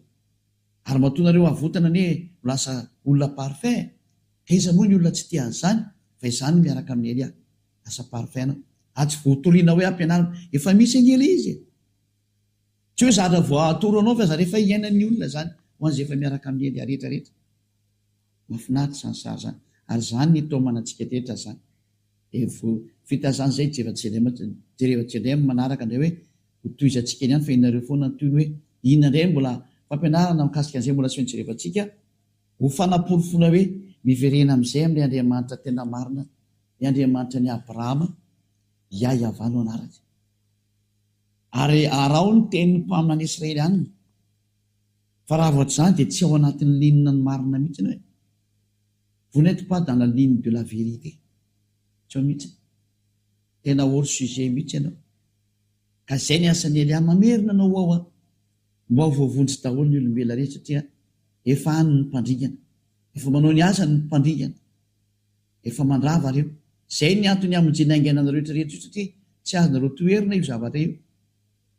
Ary matoa nareo avotana anie ho lasa olona parfait e! Ka iza moa ny olona tsy tia an'izany fa izany ny miaraka amin'i Elia. Lasa parfait anao. Ary tsy voatoriana hoe ampianarina. Efa misy an'i Elia izy e! Tsy hoe zatra voatoro anao fa zatra efa iainan'ny olona izany ho an'izay efa miaraka amin'ny hendry arehetra rehetra. Mahafinaritra izany sary izany ary izany ny taomana antsika rehetra izany. Dia vao vita izany izay jereo JLM jereo JLM ny manaraka indray hoe ho tohizantsika eny ihany fa ianareo foana ny tohiny hoe inona indray ny mbola fampianarana mikasika an'izay mbola asehon'i Jereva antsika ho fanaporofoana hoe miverena amin'izay amin'ilay Andriamanitra tena marina, ilay Andriamanitra an'i Abrahama, Iay Yavah no anarany. Ary araho ny tenin'ny mpaminany Israelianina, fa raha vao tsy izany dia tsy ao anatin'ny linina ny marina mihitsy ianao e! Vous n'êtes pas dans la ligne de la vérité, tsy ao mihitsy e! Tena hors sujet mihitsy ianao! Ka izay ny asan'i Elia, mamerina anao ho ao an! Mba ho voavonjy daholo ny olombelona rehetra satria efa any ny mpandringana, efa manao ny asany ny mpandringana. Efa mandrava reo. Zay ny antony hamonjena haingana anareo rehetra reto io satria tsy azonareo toherina io zavatra io.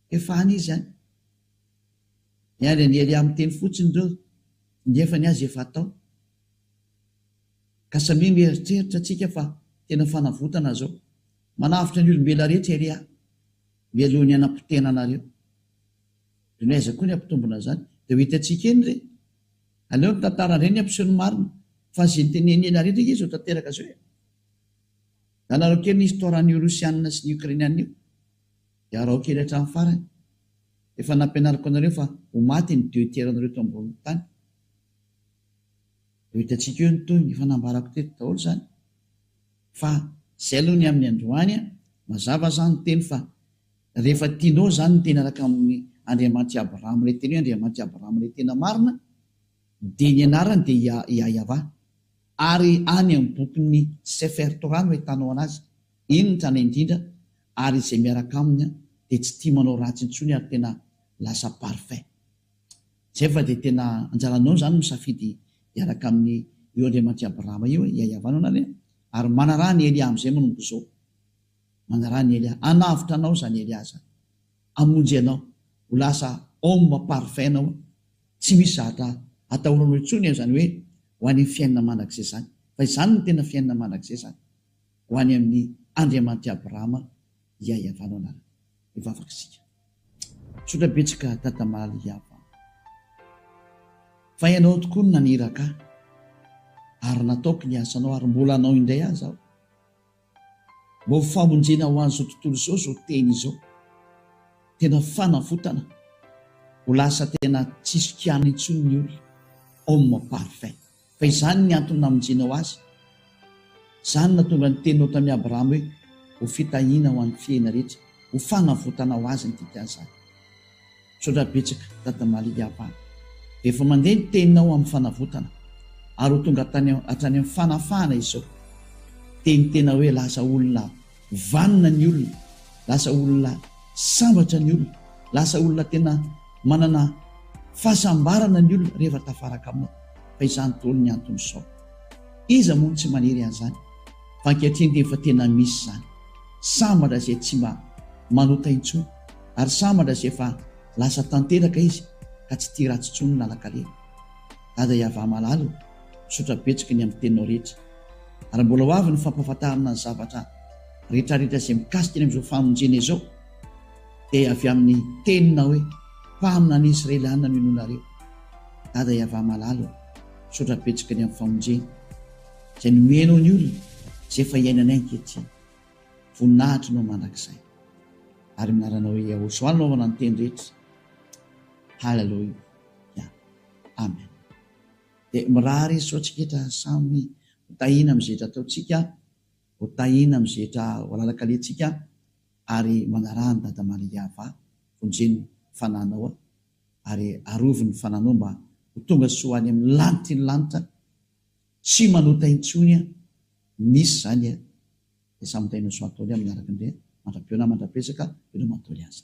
Efa any izy any. Miandry an'i Elia miteny fotsiny reo nefa ny azy efa atao. Ka samia mieritreritra tsika fa tena fanavotana zao. Manavotra ny olombelona rehetra Elia mialoha ny hanapotena anareo. De ny aiza koa ny hampitombona zany. De ho hitantsika eny re. Aleo ny tantara reny ampiseho ny marina fa ze teneniny ela rehetra nge zao tanteraka zao e! Alarao kely ny histoire an'io Russianina sy ny Ukrainianina io de araho kely hatramin'ny farany. Efa nampianariko anareo fa ho maty ny deux tiers anareo eto ambonin'ny tany. Ho hitantsika eo ny tohiny, efa nambarako teto daholo zany fa zay aloha ny amin'ny androany a! Mazava zany ny teny fa. Rehefa tianao izany ny tena araka amin'ny Andriamanitry Abrahama, ilay teny hoe Andriamanitry Abrahama ilay tena marina, dia ny anarany dia Ia, Iahiavah. Ary any amin'ny bokin'ny Sefer Torah no ahitanao anazy. Iny ny tranainy indrindra, ary izay miaraka aminy dia tsy tia manao ratsy intsony ary tena lasa parfait. Izay fa dia tena anjaranao izany misafidy hiaraka amin'io Andriamanitry Abrahama io, Iahiavah no anarany, ary manaraha an'i Elia amin'izay manomboka izao. Manaraha an'i Elia. Hanavotra anao izany Elia izany. Hamonjy anao. Ho lasa homme parfait ianao. Tsy misy zavatra atahoranao intsony an izany hoe ho any amin'ny fiainana mandrakizay izany. Fa izany no tena fiainana mandrakizay izany. Ho any amin'ny Andriamanitr'i Abrahama iaiavanao anarany. Hivavaka isika. Misaotra betsaka Tata Maly Yavah. Fa ianao tokoa no naniraka ahy. Ary nataoko ny asanao ary mbola hanao indray aza aho. Mba ho famonjena ho an'izao tontolo izao izao teny izao. Tena fanavotana. Ho lasa tena tsisy kiana intsony ny olona. Homme parfait. Fa izany ny antony namonjenao azy. Izany no nahatonga ny teninao tamin'i Abrahama hoe, Ho fitahiana ho an'ny fihena rehetra. Ho fanavotana ho azy ny dikan'izany. Misaotra betsaka Dada Malidy Abany. Efa mandeha ny teninao amin'ny fanavotana ary ho tonga hatrany amin'ny fanafahana izao. Dia ny tena hoe lasa olona vanona ny olona, lasa olona sambatra ny olona, lasa olona tena manana fahasambarana ny olona rehefa tafaraka aminao. Fa izany daholo ny anton'izao. Iza moa no tsy maniry an'izany? Fa ankehitriny dia efa tena misy izany. Sambatra izay tsy mba manota intsony. Ary sambatra sy efa lasa tanteraka izy ka tsy tia ratsy tsony lalakale. Dada iavah malala o, misaotra betsaka ny amin'ny teninao rehetra. Ary mbola ho avy ny fampahafantarana ny zavatra retraretra izay mikasika ny amin'izao famonjena izao dia avy amin'ny teninao hoe mpamina ny Israeliana no inoanareo. Dada iavah malala o, misaotra betsaka ny amin'ny famonjena izay nomenao ny olona izay efa iainanay ankehitriny. Voninahitrinao mandrakizay. Ary amin'ny anaranao Yahoshuah no anaovana ny teny rehetra. Haleloia. Yeah. Amen. Dia mirary izy sao tsiketra samy hotahina amin'ny zetra ataontsika, hotahina amin'ny zetra ho alalakalehantsika ary manaraha ny Dada Maria Ava, vonjeny fananao ary arovy ny fananao mba ho tonga soa any amin'ny lanitry ny lanitra. Tsy manota intsony an! Misy izany an! Dia samy mitainin'i soa ataony aminy araka ny reha mandra-peo na mandra-pezaka eo no maha-doly azy.